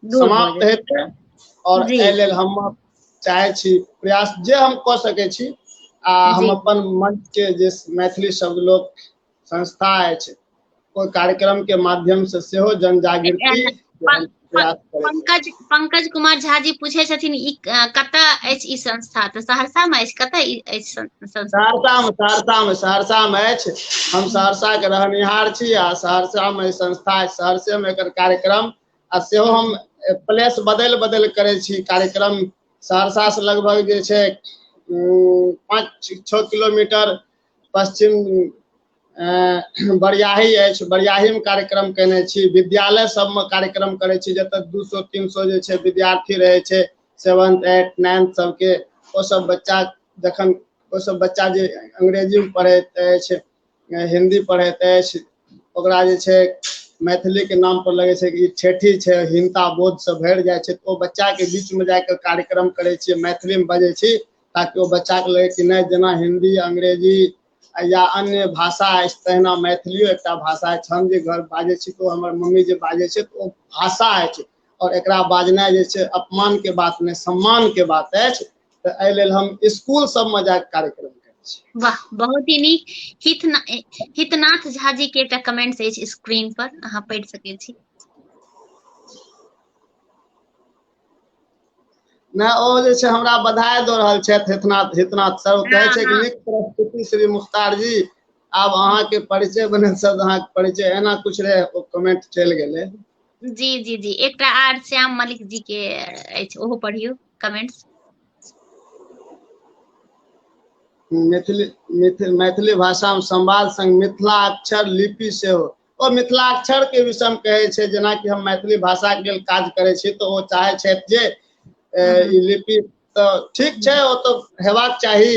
समाप्त हेतै और एहि लेल हम चाहे छी प्रयास जे हम कऽ सकै छी आ हम अपन मंच के जे मैथिली सब लोग संस्था अछि ओहि कार्यक्रम के माध्यम से सेहो जन जागृति के हम प्रयास करै छी। पंकज पंकज कुमार झा जी पूछे छथिन ई अ, कतऽ अछि ई संस्था तऽ सहरसा मे अछि कतऽ ई अछि सं- संस्था सहरसा मे सहरसा मे सहरसा मे अछि हम सहरसा के रहनिहार छी आ सहरसा मे ई संस्था अछि सहरसे मे एकर कार्यक्रम आ सेहो हम प्लेस बदलि बदलि करै छी कार्यक्रम सहरसा से लगभग जे छै उम, पाँच छओ किलोमीटर पश्चिम बरियाही अछि बरियाहीमे कार्यक्रम केने छी विद्यालय सबमे कार्यक्रम करै छी जतऽ दू सौ तीन सौ जे छै विद्यार्थी रहै छै सेवन्थ एट नाइन्थ सबके ओ सब बच्चा जखन ओ सब बच्चा जे अंग्रेजीमे पढ़ैत अछि हिन्दी पढ़ैत अछि ओकरा जे छै मैथिलीके नाम पर लगै छै कि ई ठेठी छै हिनता बोधसँ भरि जाइ छै तऽ ओ बच्चाके बीचमे जाकऽ कार्यक्रम करै छियै मैथिलीमे बजै छी ताकि ओ बच्चाके लगै कि नहि जेना हिन्दी अंग्रेजी या अन्य भाषा अछि तहिना मैथिलियो एकटा भाषा अछि हम जे घर बाजै छी तऽ हमर मम्मी जे बाजै छै ओ भाषा अछि आओर एकरा बाजनाइ जे छै अपमानके बात नहि सम्मानके बात अछि तऽ एहि लेल हम स्कूल सबमे जाके कार्यक्रम वाह बहुत ही नीक हितना, हितनाथ झा जी के एकटा कमेंट्स अछि स्क्रीन पर अहाँ पढ़ि सकैत छी ना ओ जे छै हमरा बधाई दऽ रहल छथि हेतनाथ हेतनाथ सर ओ कहै छै कि नीक प्रस्तुति श्री मुख्तार जी आब अहाँके परिचय बनल सब अहाँके परिचय एना कुछ रहे ओ कमेंट चलि गेलै जी जी जी एकटा आर श्याम मलिक जी के अछि ओहो पढ़ियो कमेंट्स मैथिली मैथिली भाषामे संवाद संग मिथिला अक्षर लिपि सेहो ओ मिथिलाक्षर के विषय हम कहे छै जेना कि हम मैथिली भाषा के लेल काज करे छी तो ओ चाहे छै जे हम्म। ई लिपि तो ठीक छै ओ तो हेबाक चाही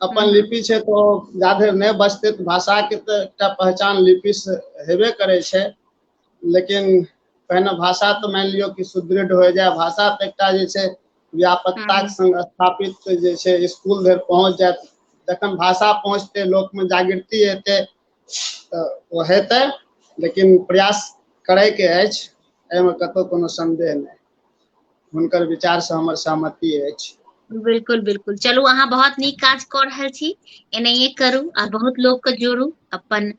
अपन हम्म। लिपि छै तो जाधर नहि बचते तो भाषा के तो एकटा पहचान लिपि से हेबे करे छै लेकिन पहिने भाषा तो मान लियो कि सुदृढ़ हो जाए भाषा तो एकटा जे छै व्यापकता हम्म। संग स्थापित जे छै स्कूल धरि पहुंच जाए तखन भाषा पहुंचते लोक में जागृति हेतै तऽ ओ हेतै लेकिन प्रयास करयके अछि एहिमे कतहु कोनो सन्देह नहि हुनकर विचारसँ हमर सहमति अछि बिल्कुल बिल्कुल चलू अहाँ बहुत नीक काज कऽ रहल छी एनाहिए करू आ बहुत लोकके जोड़ू अपन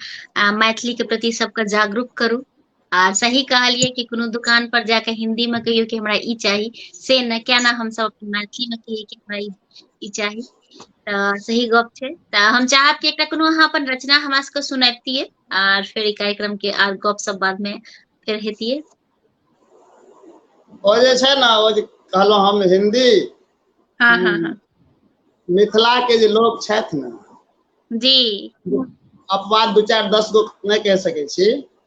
मैथिलीके प्रति सबके जागरूक करू आ सही कहलियै कि कोनो दुकान पर जाके हिन्दी मे कहियो कि हमरा ई चाही से ने क्या ना हम सब मैथिली मे कहियै कि हमरा ई चाही तऽ सही गप छै तऽ हम चाहब कि एकटा कोनो अहाँ अपन रचना हमरा सबके सुनैबतियै आर फेर ई कार्यक्रम के आर गप सब बाद में फेर हेतियै ओ जे छै ने ओ जे कहलहुँ हम हिन्दी हाँ हाँ हाँ मिथिला के जे लोग छथि ने जी अपवाद दू चारि दस गो नहि कहि सकै छी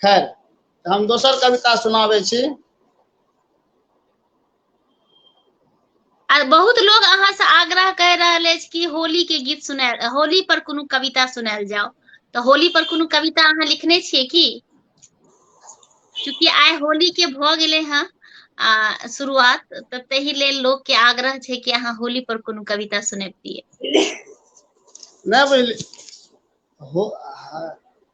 खैर तऽ हम दोसर कविता सुनाबै छी आ बहुत लोग अहाँ से आग्रह कर रहल अछि कि होली के गीत सुनायल होली पर कोनो कविता सुनायल जाओ तऽ होली पर कोनो कविता अहाँ लिखने छियै की चूंकि आइ होली के भऽ गेलै हँ आ शुरुआत तऽ ताहि लेल लोक के आग्रह छै कि अहाँ होली पर कोनो कविता सुनैबतियै नहि बुझली हो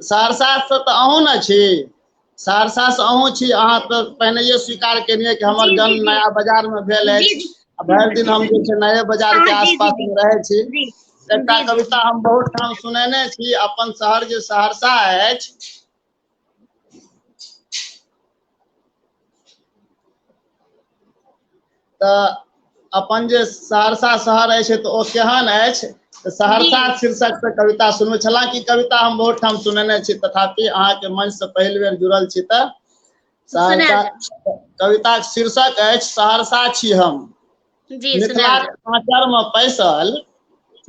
सहरसासँ तऽ अहूँ ने छी सहरसासँ अहूँ छी अहाँ तऽ पहिनहिए स्वीकार केलियै कि हमर जन्म नया बाजारमे भेल अछि आ भरि दिन हम जे छै नये बाजारके आसपासमे रहै छी एकटा कविता हम बहुत ठाम सुनेने छी अपन शहर जे सहरसा अछि तऽ अपन जे सहरसा शहर अछि तऽ ओ केहन अछि तऽ सहरसा शीर्षक से कविता सुनबै छला कि कविता हम बहुत ठाम सुनेने छी तथापि अहाँके मंच से पहिल बेर जुड़ल छी तऽ सहरसा कविताक शीर्षक अछि सहरसा छी हम जी सुनायल मिथिलाक आचर मे पैसल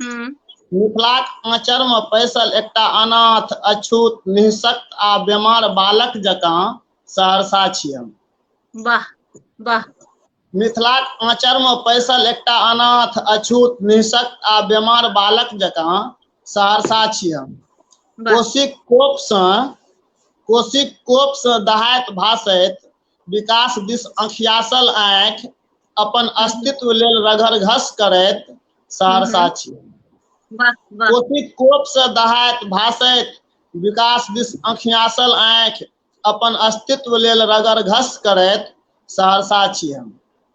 हूँ मिथिलाक आँचर मे पैसल एकटा अनाथ अछूत हिंसक आ बेमार बालक जकाँ सहरसा छी हम वाह वाह मिथिलाक आँचर मे पैसल एकटा अनाथ अछूत हिंसक आ बेमार बालक जकाँ सहरसा छी हम वाह कोशिक कोपसँ कोशिक कोपसँ दहाइत भासैत विकास दिस अखियासल आँखि अपन अस्तित्व लेल रघर घस करैत सहरसा छी कोटि कोप से दहाइत भाषैत विकास दिस अखियासल आँखि अपन अस्तित्व लेल रगर घस करैत सहरसा छी हम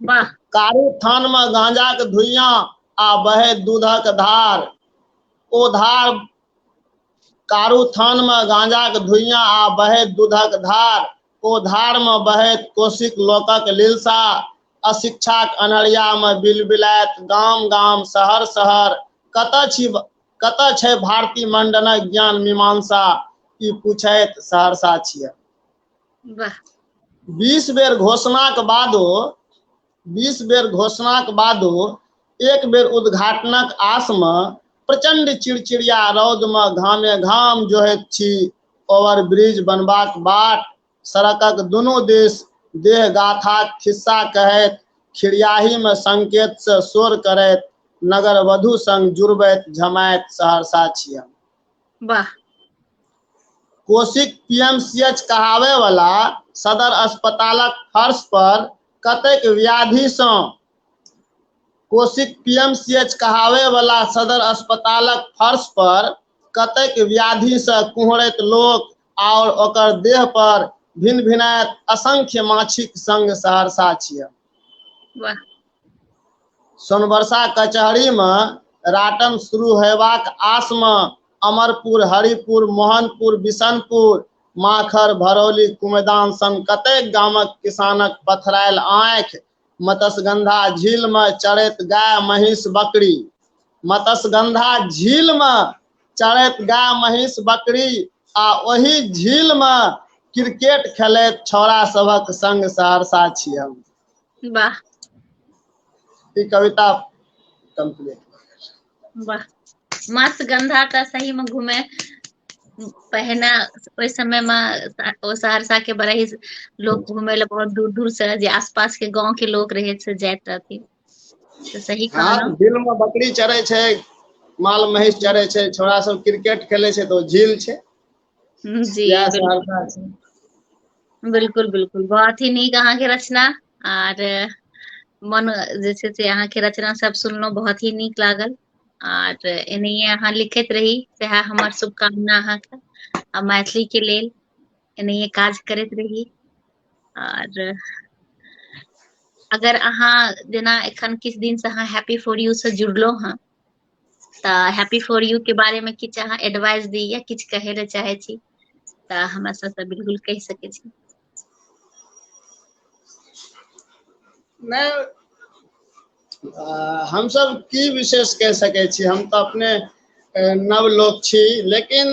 वाह कारू थान मे गांजा के धुइया आ बहे दूधक धार ओ धार कारू थान मे गांजा के धुइया आ बहे दूधक धार ओ धार मे बहे कोशिक लोकक लिलसा अशिक्षाक अनहरिया मे बिलबिलायत गाम गाम शहर शहर कतऽ छी कतऽ छै भारती मंडनक ज्ञान मीमांसा ई पूछैत सहरसा छियै वाह बीस बेर घोषणाक बादो बीस बेर घोषणाक बादो एक बेर उद्घाटनक आसमे प्रचंड चिड़चिड़िया रौदमे घामे घाम जोहैत छी ओवर ब्रिज बनबाक बाट सड़कक दुनू दिस देह गाथाक खिस्सा कहैत खिड़ियाहीमे संकेतसँ शोर करैत नगर वधु संग जुड़बैत झमाइत सहरसा छी हम वाह कोशिक पीएमसीएच कहावे वाला सदर अस्पतालक फर्श पर कतेक व्याधि सँ कोशिक पीएमसीएच कहावे वाला सदर अस्पतालक फर्श पर कतेक व्याधि सँ कुहरैत लोक आओर ओकर देह पर भिन भिनायत असंख्य माछीक संग सहरसा छियै वाह सोनबरसा कचहरीमे राटन शुरू होयबाक आसमे अमरपुर हरिपुर मोहनपुर बिशनपुर माखर भरौली कुमदान सन कतेक गामक किसानक पथरायल आँखि मत्स्यगंधा झीलमे चरैत गाय महीस बकरी मत्स्यगंधा झीलमे चरैत गाय महीस बकरी आ ओहि झीलमे क्रिकेट खेलैत छौड़ा सभक संग सहरसा छी हम वाह ई कविता कम्प्लीट भऽ गेल छै वाह मस गन्धा तऽ सही मे घूमे पहिने ओहि समय मे ओ सहरसा के बड़ा ही लोग घूमेय ले बहुत दूर दूर से जे आस पास के गाँंव के लोग रहे से जाइत रहथिन तऽ सही हँ कहलौं दिल मे बकरी चरे छै माल महींष चरे छै छौड़ा सब क्रिकेट खेले छै तऽ ओ झील छै हम्म, जी इएह सब बिल्कुल हल्का छै बिल्कुल बिल्कुल बहुत ही नीक अहाँके रचना आर मन जे छै से अहाँके रचना सब सुनलहुँ बहुत ही नीक लागल आर एनाहिये अहाँ लिखैत रही सएह हमर शुभकामना अहाँके आ मैथिली के लेल एनाहिये काज करैत रही आर अगर अहाँ जेना एखन किछु दिन से अहाँ हैप्पी फॉर यू से जुड़लहुँ हँ तऽ हैप्पी फॉर यू के बारे मे किछु अहाँ एडवाइस दी या किछु कहै लए चाहै छी तऽ हमरा सबसँ बिल्कुल कहि सकै छी नहि हमसब की विशेष कहि सकै छी हम तऽ अपने नव लोक छी लेकिन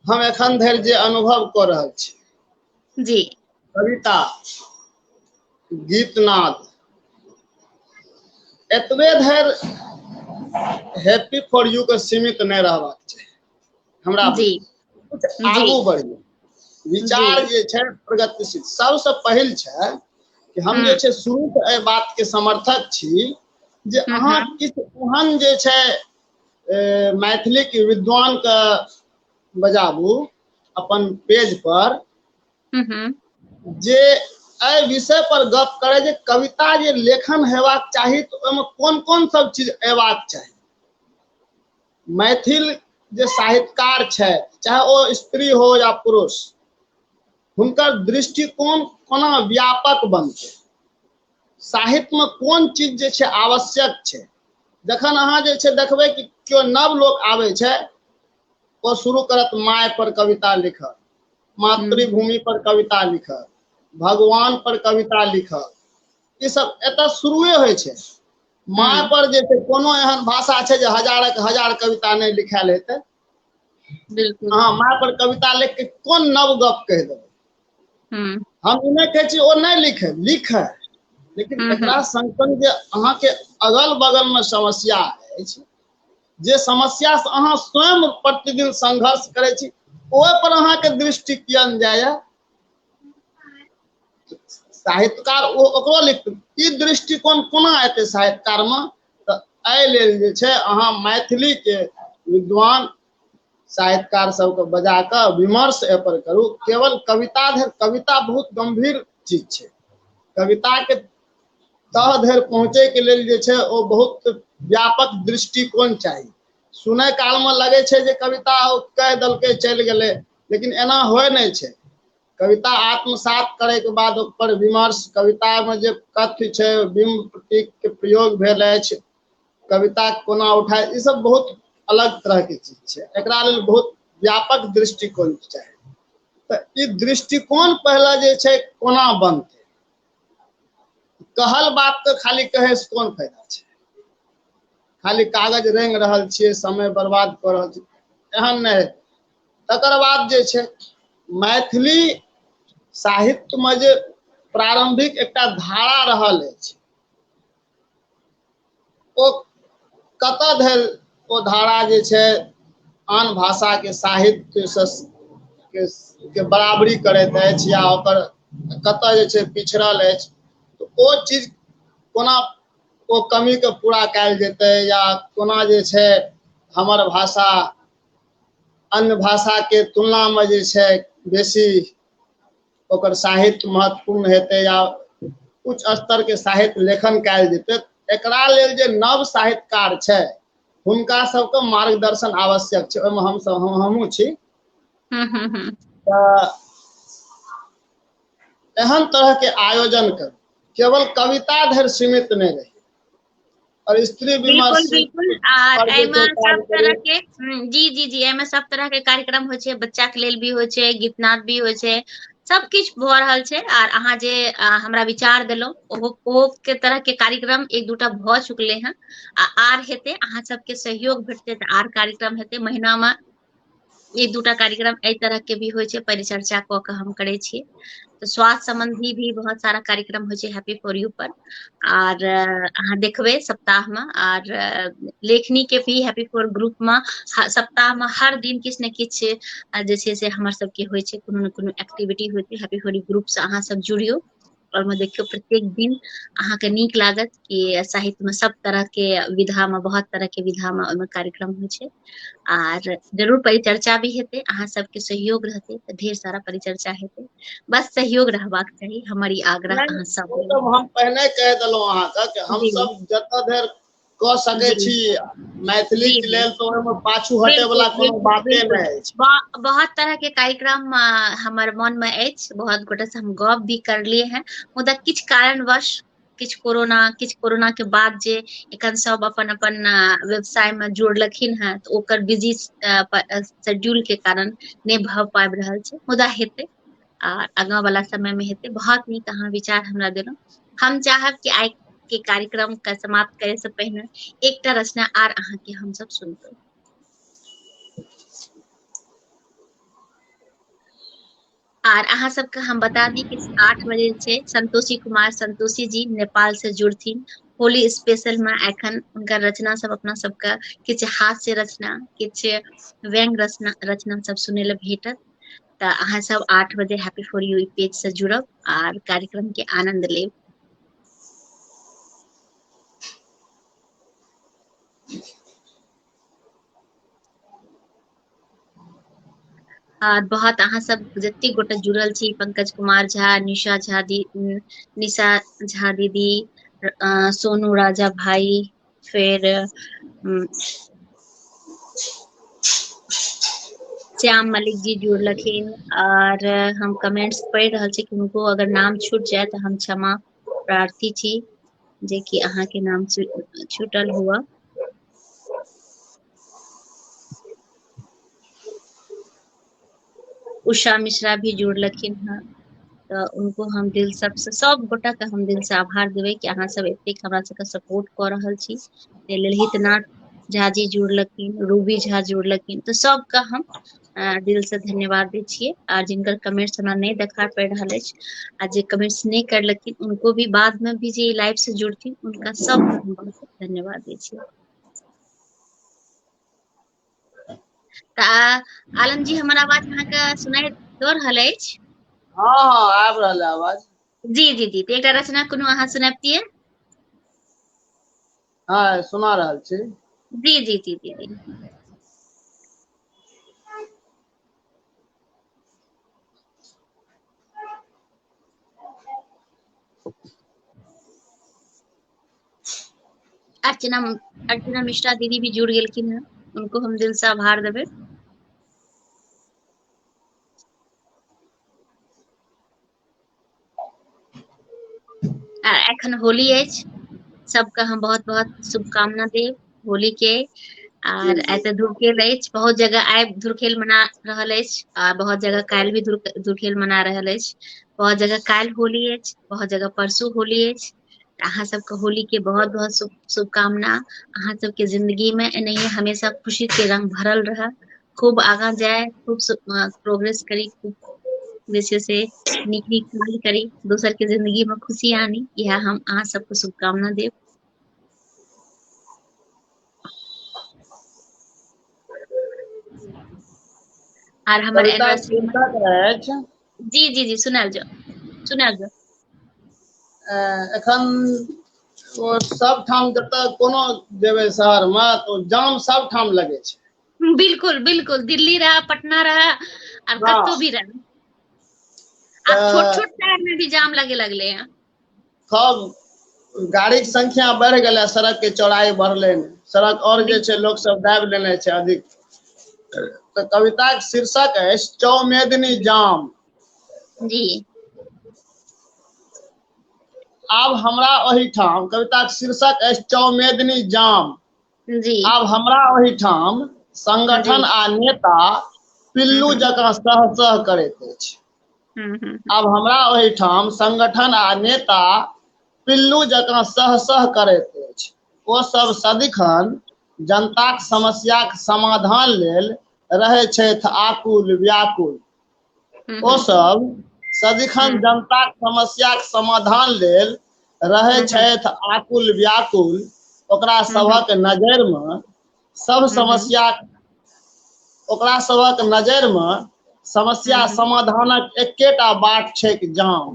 हम एखन धरि जे अनुभव कऽ रहल छी जी कविता गीतनाद एतबे धरि हैप्पी फॉर यू के सीमित नहि रहबाक चाही हमरा जी कुछ जी। आगू बढ़िए विचार जी। जे छै प्रगतिशील सबसँ पहिल छै कि हम जे हम्म। छै शुरू से एहि बात के समर्थक छी जे हम्म, अहाँ हम्म। किछु ओहन जे छै ए, मैथिली के विद्वान के बजाबू अपन पेज पर हम्म। जे एहि विषय पर गप करे जे कविता जे लेखन हेबाक चाही तऽ ओहिमे कोन कोन सब चीज अयबाक चाही मैथिल जे साहित्यकार छथि चाहे ओ स्त्री हो या पुरुष हुनकर दृष्टिकोण कोना व्यापक बनतै साहित्यमे कोन चीज जे छै आवश्यक छै जखन अहाँ जे छै देखबै कि केओ नव लोक आबै छै ओ शुरू करत माय पर कविता लिखत मातृभूमि पर कविता लिखत भगवान पर कविता लिखत ई सब एतऽ शुरुए होइ छै माय पर जे छै कोनो एहन भाषा छै जे हजारक हजार कविता नहि लिखायल हेतै बिल्कुल अहाँ माय पर कविता लिख के कोन नव गप कह देबै हम्म। हम ई नहि छी ओ नहि लिखे लिखे लेकिन हम्म, एकरा हम्म। संग संग जे अहाँके अगल बगल में समस्या अछि जे समस्या से अहाँ स्वयं प्रतिदिन संघर्ष करै छी ओहि पर अहाँके दृष्टि कियन जाइए साहित्यकार ओ ओकरो लिख ई दृष्टिकोण कोना एतै साहित्यकार में तऽ एहि लेल जे छै अहाँ मैथिलीके विद्वान साहित्यकार सबके बजा कऽ विमर्श एहिपर करू केवल कविता धरि कविता बहुत गंभीर चीज छै कविताके तह धरि पहुँचैके लेल जे छै ओ बहुत व्यापक दृष्टिकोण चाही सुनै कालमे लगै छै जे कविता ओ कहि देलकै चलि गेलै लेकिन एना होइ नहि छै कविता आत्मसात करैके बाद ओकर विमर्श कवितामे जे कथ्य छै बिम्ब प्रतीकके प्रयोग भेल अछि कविता कोना उठाय ई सब बहुत अलग तरहके चीज छै एकरा लेल बहुत व्यापक दृष्टिकोण चाही तऽ ई दृष्टिकोण पहले जे छै कोना बनतै कहल बात तऽ खाली कहे से कोन फायदा छै खाली कागज रेंग रहल छियै समय बर्बाद कऽ रहल छियै एहन नहि तकर बाद जे छै मैथिली साहित्यमे जे प्रारम्भिक एकटा धारा रहल अछि ओ कतऽ धरि ओ धारा जे छै आन भाषाके साहित्य के, के बराबरी करैत अछि या ओकर कतऽ जे छै पिछड़ल अछि तऽ ओ चीज कोना ओ कमीके पूरा कयल जेतै या कोना जे छै हमर भाषा अन्य भाषाके तुलनामे जे छै बेसी ओकर साहित्य महत्वपूर्ण हेतै या उच्च स्तरके साहित्य लेखन कयल जेतै एकरा लेल जे नव साहित्यकार छै हुनका सबके मार्गदर्शन आवश्यक छै ओहिमे हमसब हम हमहूँ छी हम्म, हम्म, हम्म। तऽ एहन तरहके आयोजन करू केवल कविता धरि सीमित नहि रही और स्त्री विमर्श बिल्कुल आर एमे सब तरह के हम्म, जी जी जी एमे सब तरह के कार्यक्रम होय छै बच्चा के लेल भी होय छै गीत नाद भी होय छै सब किछ भ रहल छै आर अहाँ जे हमरा विचार देलो ओहो ओहो के तरह के कार्यक्रम एक दूटा भ चुकले हैं आ आर हेते अहाँ सब के सहयोग भेटते त आर कार्यक्रम हेते महीना में ई दूटा कार्यक्रम एहि तरह के भी होइ छै परिचर्चा कऽ के हम करै छी तऽ स्वास्थ्य सम्बन्धी भी बहुत सारा कार्यक्रम होइ छै हैप्पी फॉर यू पर आर अहाँ देखबै सप्ताह में आर लेखनी के भी हैप्पी फॉर ग्रुप में सप्ताह में हर दिन किछु ने किछु जे छै से हमर सबके होइ छै कोनो ने कोनो एक्टिविटी होइ छै हैप्पी फॉर यू ग्रुप से अहाँ सब जुड़ियो ओहिमे देखियौ प्रत्येक दिन अहाँके नीक लागत कि साहित्य मे सब तरह के विधा मे बहुत तरह के विधा मे ओहिमे कार्यक्रम होइ छै आर जरूर परिचर्चा भी हेतै अहाँ सबके सहयोग रहतै तऽ ढेर सारा परिचर्चा हेतै बस सहयोग रहबाक चाही हमर ई आग्रह अहाँ सब हम पहिने कह देलहुँ अहाँके हम सब जतऽ धरि कऽ सकै छी मैथिली के लेल तऽ ओहिमे पाछू हटे वाला कोनो बाते नहि अछि बहुत तरह के कार्यक्रम हमर मन में अछि बहुत गोटे से हम गप भी करलिए हैं मुदा किछु कारणवश किछु कोरोना किछु कोरोना के बाद जे एखन सब अपन अपन व्यवसाय में जोड़लखिन हैं तऽ ओकर बिजी शेड्यूल के कारण नहि भऽ पाबि रहल छै मुदा हेतै आ आगा वला समय मे हेतै बहुत नीक अहाँ विचार हमरा देलहुँ हम चाहब कि आइ के कार्यक्रम के समाप्त करे से पहिने एकटा रचना आर अहाँ के हम सब सुनबे आर अहाँ सबके हम बता दी कि आठ बजे छै संतोषी कुमार संतोषी जी नेपाल से जुड़थिन होली स्पेशल में एखन उनका रचना सब अपना सबके किछु हास्य रचना किछु व्यंग रचना रचना सब सुने ले भेटत तऽ अहाँ सब आठ बजे हैप्पी फोर यू पेज से जुड़ब आर कार्यक्रम के आनंद लेब आर बहुत अहाँ सब जते गोटे जुड़ल छी पंकज कुमार झा निशा झा दी निशा झा दीदी सोनू राजा भाई फेर उ श्याम मलिक जी जुड़लखिन आर हम कमेंट्स पढ़ि रहल छी किनको अगर नाम छूट जाय तऽ हम क्षमा प्रार्थी छी जेकि अहाँके नाम छुटल हुए उषा मिश्रा भी जुड़लखिन हेँ तऽ हुनको हम दिल सभसँ सभगोटाके हम दिलसँ आभार देबै कि अहाँसभ एतेक हमरा सभके सपोर्ट कऽ रहल छी ताहि लेल हितनाथ झा जी जुड़लखिन रूबी झा जुड़लखिन तऽ सभके हम दिल से धन्यवाद दै छियै आ जिनकर कमेंट्स हमरा नहि देखा पड़ि रहल अछि आ जे कमेंट्स नहि करलखिन उनको भी बाद में भी जे लाइव से जुड़थिन उनका सबके हम बहुत धन्यवाद दै छियै तऽ आलम जी हमर आवाज अहाँके सुनाइ दऽ रहल अछि हँ हँ आबि रहल है आवाज जी जी जी तऽ एकटा रचना कोनो अहाँ सुनबितियै हँ सुना रहल छी जी जी जी जी जी अर्चना अर्चना मिश्रा दीदी भी जुड़ गए हैं उनको हम दिल से आभार देवे आ एखन होली अछि सबके हम बहुत बहुत शुभकामना देब होली के आर आइ तऽ धुरखेल अछि बहुत जगह आइ धुरखेल मना रहल अछि आ बहुत जगह काल्हि भी धुरखेल मना रहल अछि बहुत जगह काल्हि होली अछि बहुत जगह परसू होली अछि अहाँ सबके होली के बहुत बहुत शु शुभकामना अहाँ सबके जिंन्दगी मे एनाहिये हमेशा खुशी के रंग भरल रहै खूब आगा जाय खूब प्रोग्रेस करी खूब जे छै से नीक नीक काज करी दोसर के जिंन्दगी मे खुशी आनी इहे हम अहाँ सबके शुभकामना देब आर हमर एनिवर्सरी जी जी जी सुनाबि जाउ सुनाबि जाउ अ एखन ओ सबठाम जतऽ कोनो जेबै शहर मे तऽ ओ जाम सबठाम लगै छै बिलकुल बिलकुल दिल्ली रहा पटना रहा आर हँ कतहु भी रहा आब छोट तऽ छोट शहर मे भी जाम लगे लगले ह सब गाड़ीके संख्या बढ़ि गेलै सड़कके चौड़ाइ बढ़लै सड़क आओर जे छै लोकसभ दाबि लेने छै अधिक तऽ कविताके शीर्षक अछि चौमेदनी जाम जी आब हमरा ओहिठाम कविताके शीर्षक अछि चौमेदनी जाम जी आब हमरा ओहिठाम संगठन आ नेता पिल्लू जकाँ सह सह करैत अछि हूँ हूँ हूँ आब हमरा ओहिठाम संगठन आ नेता पिल्लू जकाँ सह - सह करैत अछि ओ सब सदिखन जनताक समस्याक समाधान लेल रहै छैथ आकुल व्याकुल हूँ ओ हूँ सब सदिखन हूँ जनताक समस्याक समाधान लेल रहै हूँ हूँ छैथ आकुल व्याकुल ओकरा हूँ हूँ सभक नजैर मऽ सब समस्या ओकरा सबक नजर में समस्या हम्म। समाधानक एकेटा बाट छै जाम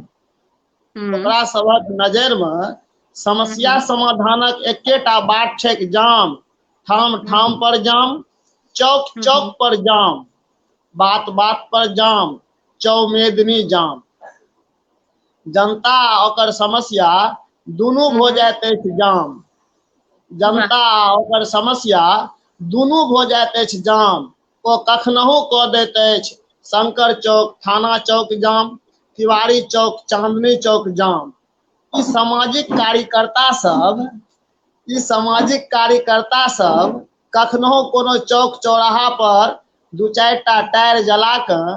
हम्म। ओकरा सबक नजर में समस्या हम्म। समाधानक एकेटा बाट छै जाम ठाम ठाम पर जाम चौक चौक पर जाम बात बात पर जाम चौमेदनी जाम जनता आ ओकर समस्या दुनू भऽ जाइत अछि जाम जनता आ ओकर समस्या दुनू भऽ जाइत अछि जाम ओ कखनहु कऽ दैत अछि शंकर चौक थाना चौक जाम तिवारी चौक चांदनी चौक जाम ई सामाजिक कार्यकर्ता सब ई सामाजिक कार्यकर्ता सब कखनहु कोनो चौक चौराहा पर दू चारि टा टायर जला कऽ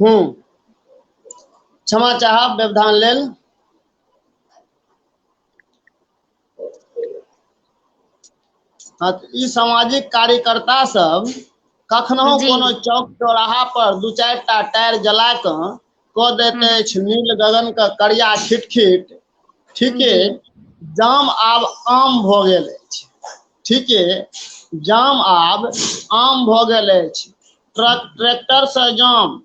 हूँ क्षमा चाहब व्यवधान लेल हँ, तऽ ई सामाजिक कार्यकर्ता सब कखनो जी। कोनो चौक चौराहा पर दू चारि टा टायर जला कऽ कऽ दैत अछि नील गगन के करिया खिट खिट ठीके जाम आब आम भऽ गेल अछि ठीके जाम आब आम भऽ गेल अछि ट्रक ट्रैक्टर से जाम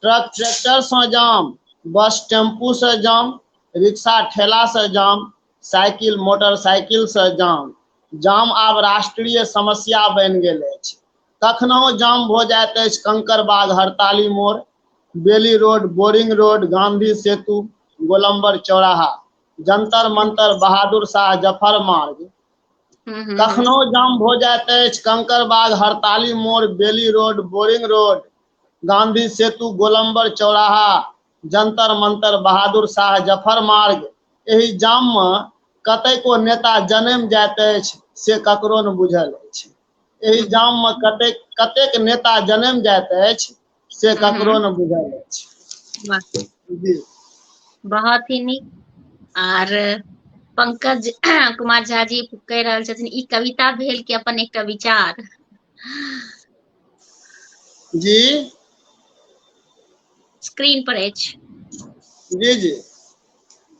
ट्रक ट्रैक्टर से जाम बस टेम्पू से जाम रिक्शा ठेला से जाम साइकिल मोटरसाइकिल से जाम जाम आब राष्ट्रीय समस्या बनि गेल अछि कखनहु जाम भऽ जाइत अछि Kankarbagh Hartali Mor Bailey Road Boring Road Gandhi Setu गोलम्बर चौराहा जंतर मंतर बहादुर शाह जफर मार्ग हम्म, हम्म। कखनो जाम भऽ जाइत अछि Kankarbagh Hartali Mor Bailey Road Boring Road Gandhi Setu गोलम्बर चौराहा जंतर मंतर बहादुर शाह जफर मार्ग एहि जाममे कतेको नेता जनम जाइत अछि से ककरो ने बुझल अछि एहि जाम में कते कतेक नेता जन्म जात अछि से ककरो हम्म। ने बुझल अछि बहुत ही नीक आर पंकज कुमार झा जी कह रहल छथिन ई कविता भेल कि अपन एकटा विचार जी स्क्रीन पर अछि जी जी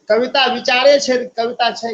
कविता विचारे छै कविता छै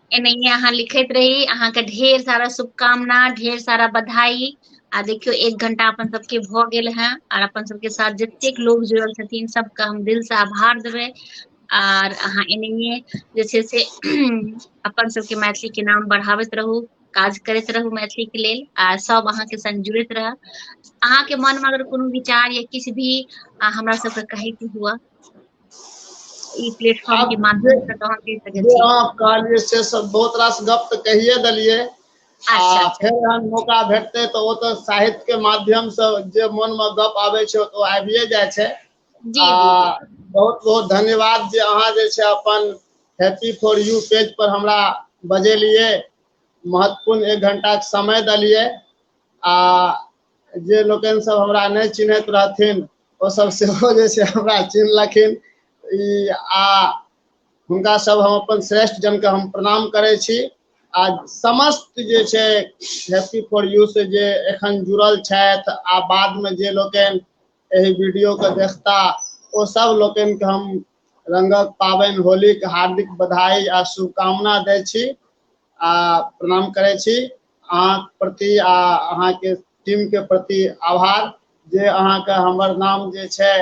एनाहिये अहाँ लिखैत रही अहाँके ढेर सारा शुभकामना ढेर सारा बधाई आ देखियौ एक घंटा अपन सबके भऽ गेल हें आर अपन सबके साथ जतेक लोग जुड़ल छथिन सब के हम दिल से आभार देबै आर अहाँ एनाहिये जे छै से अपन सबके मैथिली के नाम बढ़ाबैत रहू काज करैत रहू मैथिली के लेल आ सब अहाँके संग जुड़ैत रहब अहाँके मनमे अगर कोनो विचार या किछु भी हमरा सबके कहैके हुए ई प्लेटफॉर्म के माध्यम से कहाँ कह सकै छी आप कहलिए से सब बहुत रास गप त कहिए देलिए आ अच्छा, अच्छा। फेर हम मौका भेटते त ओ त साहित्य के माध्यम से जे मन में गप आवे छै तो आबिए जाय छै जी आ बहुत बहुत धन्यवाद जे अहाँ जे छै अपन हैप्पी फॉर यू पेज पर हमरा बजेलिए महत्वपूर्ण एक घंटा के समय देलिए आ जे लोकनि सब हमरा नहि चिन्हैत रहथिन ओ सब सेहो जे छै हमरा चिन्हलखिन ई आ हुनका सब हम अपन श्रेष्ठ जन के हम प्रणाम करै छी आ समस्त जे छै हैप्पी फॉर यू से जे एखन जुड़ल छथि आ बाद में जे लोकनि एहि वीडियो के देखता ओ सब लोकनि के हम रंगक पाबनि होली के हार्दिक बधाई आ शुभकामना दै छी आ प्रणाम करै छी अहाँ प्रति आ अहाँके टीमके प्रति आभार जे अहाँके हमर नाम जे छै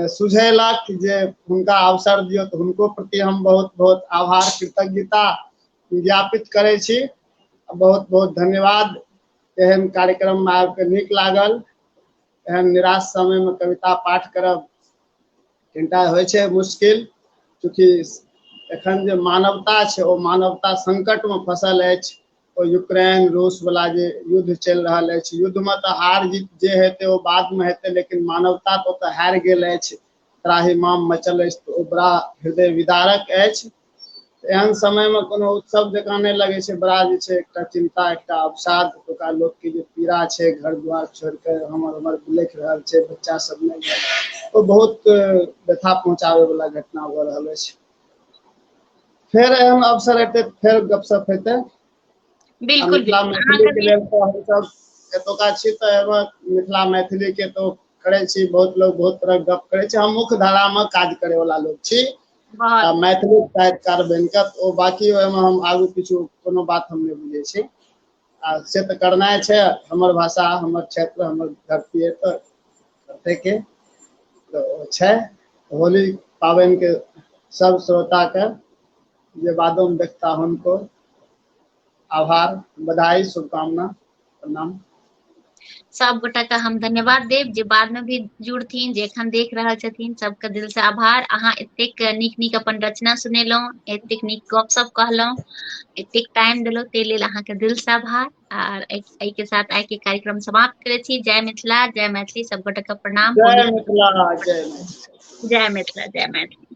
सुझेलक जे हुनका अवसर दियौ तऽ हुनको प्रति हम बहुत बहुत आभार कृतज्ञता ज्ञापित करै छी बहुत बहुत धन्यवाद एहन कार्यक्रममे आबि कऽ नीक लागल एहन निराश समयमे कविता पाठ करब कनिटा होइ छै मुश्किल चूँकि एखन जे मानवता छै ओ मानवता संकटमे फँसल अछि ओ यूक्रेन रूसवला जे युद्ध चलि रहल अछि युद्धमे तऽ हार जीत जे हेतै ओ बादमे हेतै लेकिन मानवता तऽ ओतऽ हारि गेल अछि त्राहिमाम मचल अछि तऽ ओ बड़ा हृदय विदारक अछि एहन समय मे कोनो उत्सव जकाँ नहि लगै छै बड़ा जे छै एकटा चिन्ता एकटा अवसाद एतुका लोक के जे पीड़ा छै घर दुवार छोड़ के हमर उमर बिलैख रहल छै बच्चा सब नै या ओ बहुत व्यथा पहुँचाबै बला घटना भऽ रहल अछि फेर एहन अवसर हेतै फेर गपशप हेतै बिल्कुल मिथिला मैथिली के लेल तऽ हमसब एतुका छी तऽ एमे मिथिला मैथिली के तो करै छी बहुत लोग बहुत तरह गप करै छै हम मुख्य धारा मे काज करै वाला लोग छी आ बहल मैथिली साहितकार बनि क तऽ ओ बाँकी ओहिमे हम आगू किछो कोनो बात हम नहि बुझै छी आ से तऽ करनाइ छै हमर भाषा हमर क्षेत्र हमर धरती अइ तऽ करतैके तऽ ओ छै होली पाबनिके सभ श्रोताके जे बादोमे देखता हुनको आभार बधाई शुभकामना प्रणाम सब गोटा के हम धन्यवाद देब जे बाद में भी जुड़थिन जे एखन देख रहल छथिन सबके दिल से आभार अहाँ एतेक नीक नीक अपन रचना सुनेलहुँ एतेक नीक गपशप कहलहुँ एतेक टाइम देलहुँ ताहि लेल अहाँके दिल से आभार आर एहि के साथ आइ के कार्यक्रम समाप्त करे छी जय मिथिला जय मैथिली सब गोटा के प्रणाम जय मिथिला जय मिथिला जय मिथिला जय मैथिली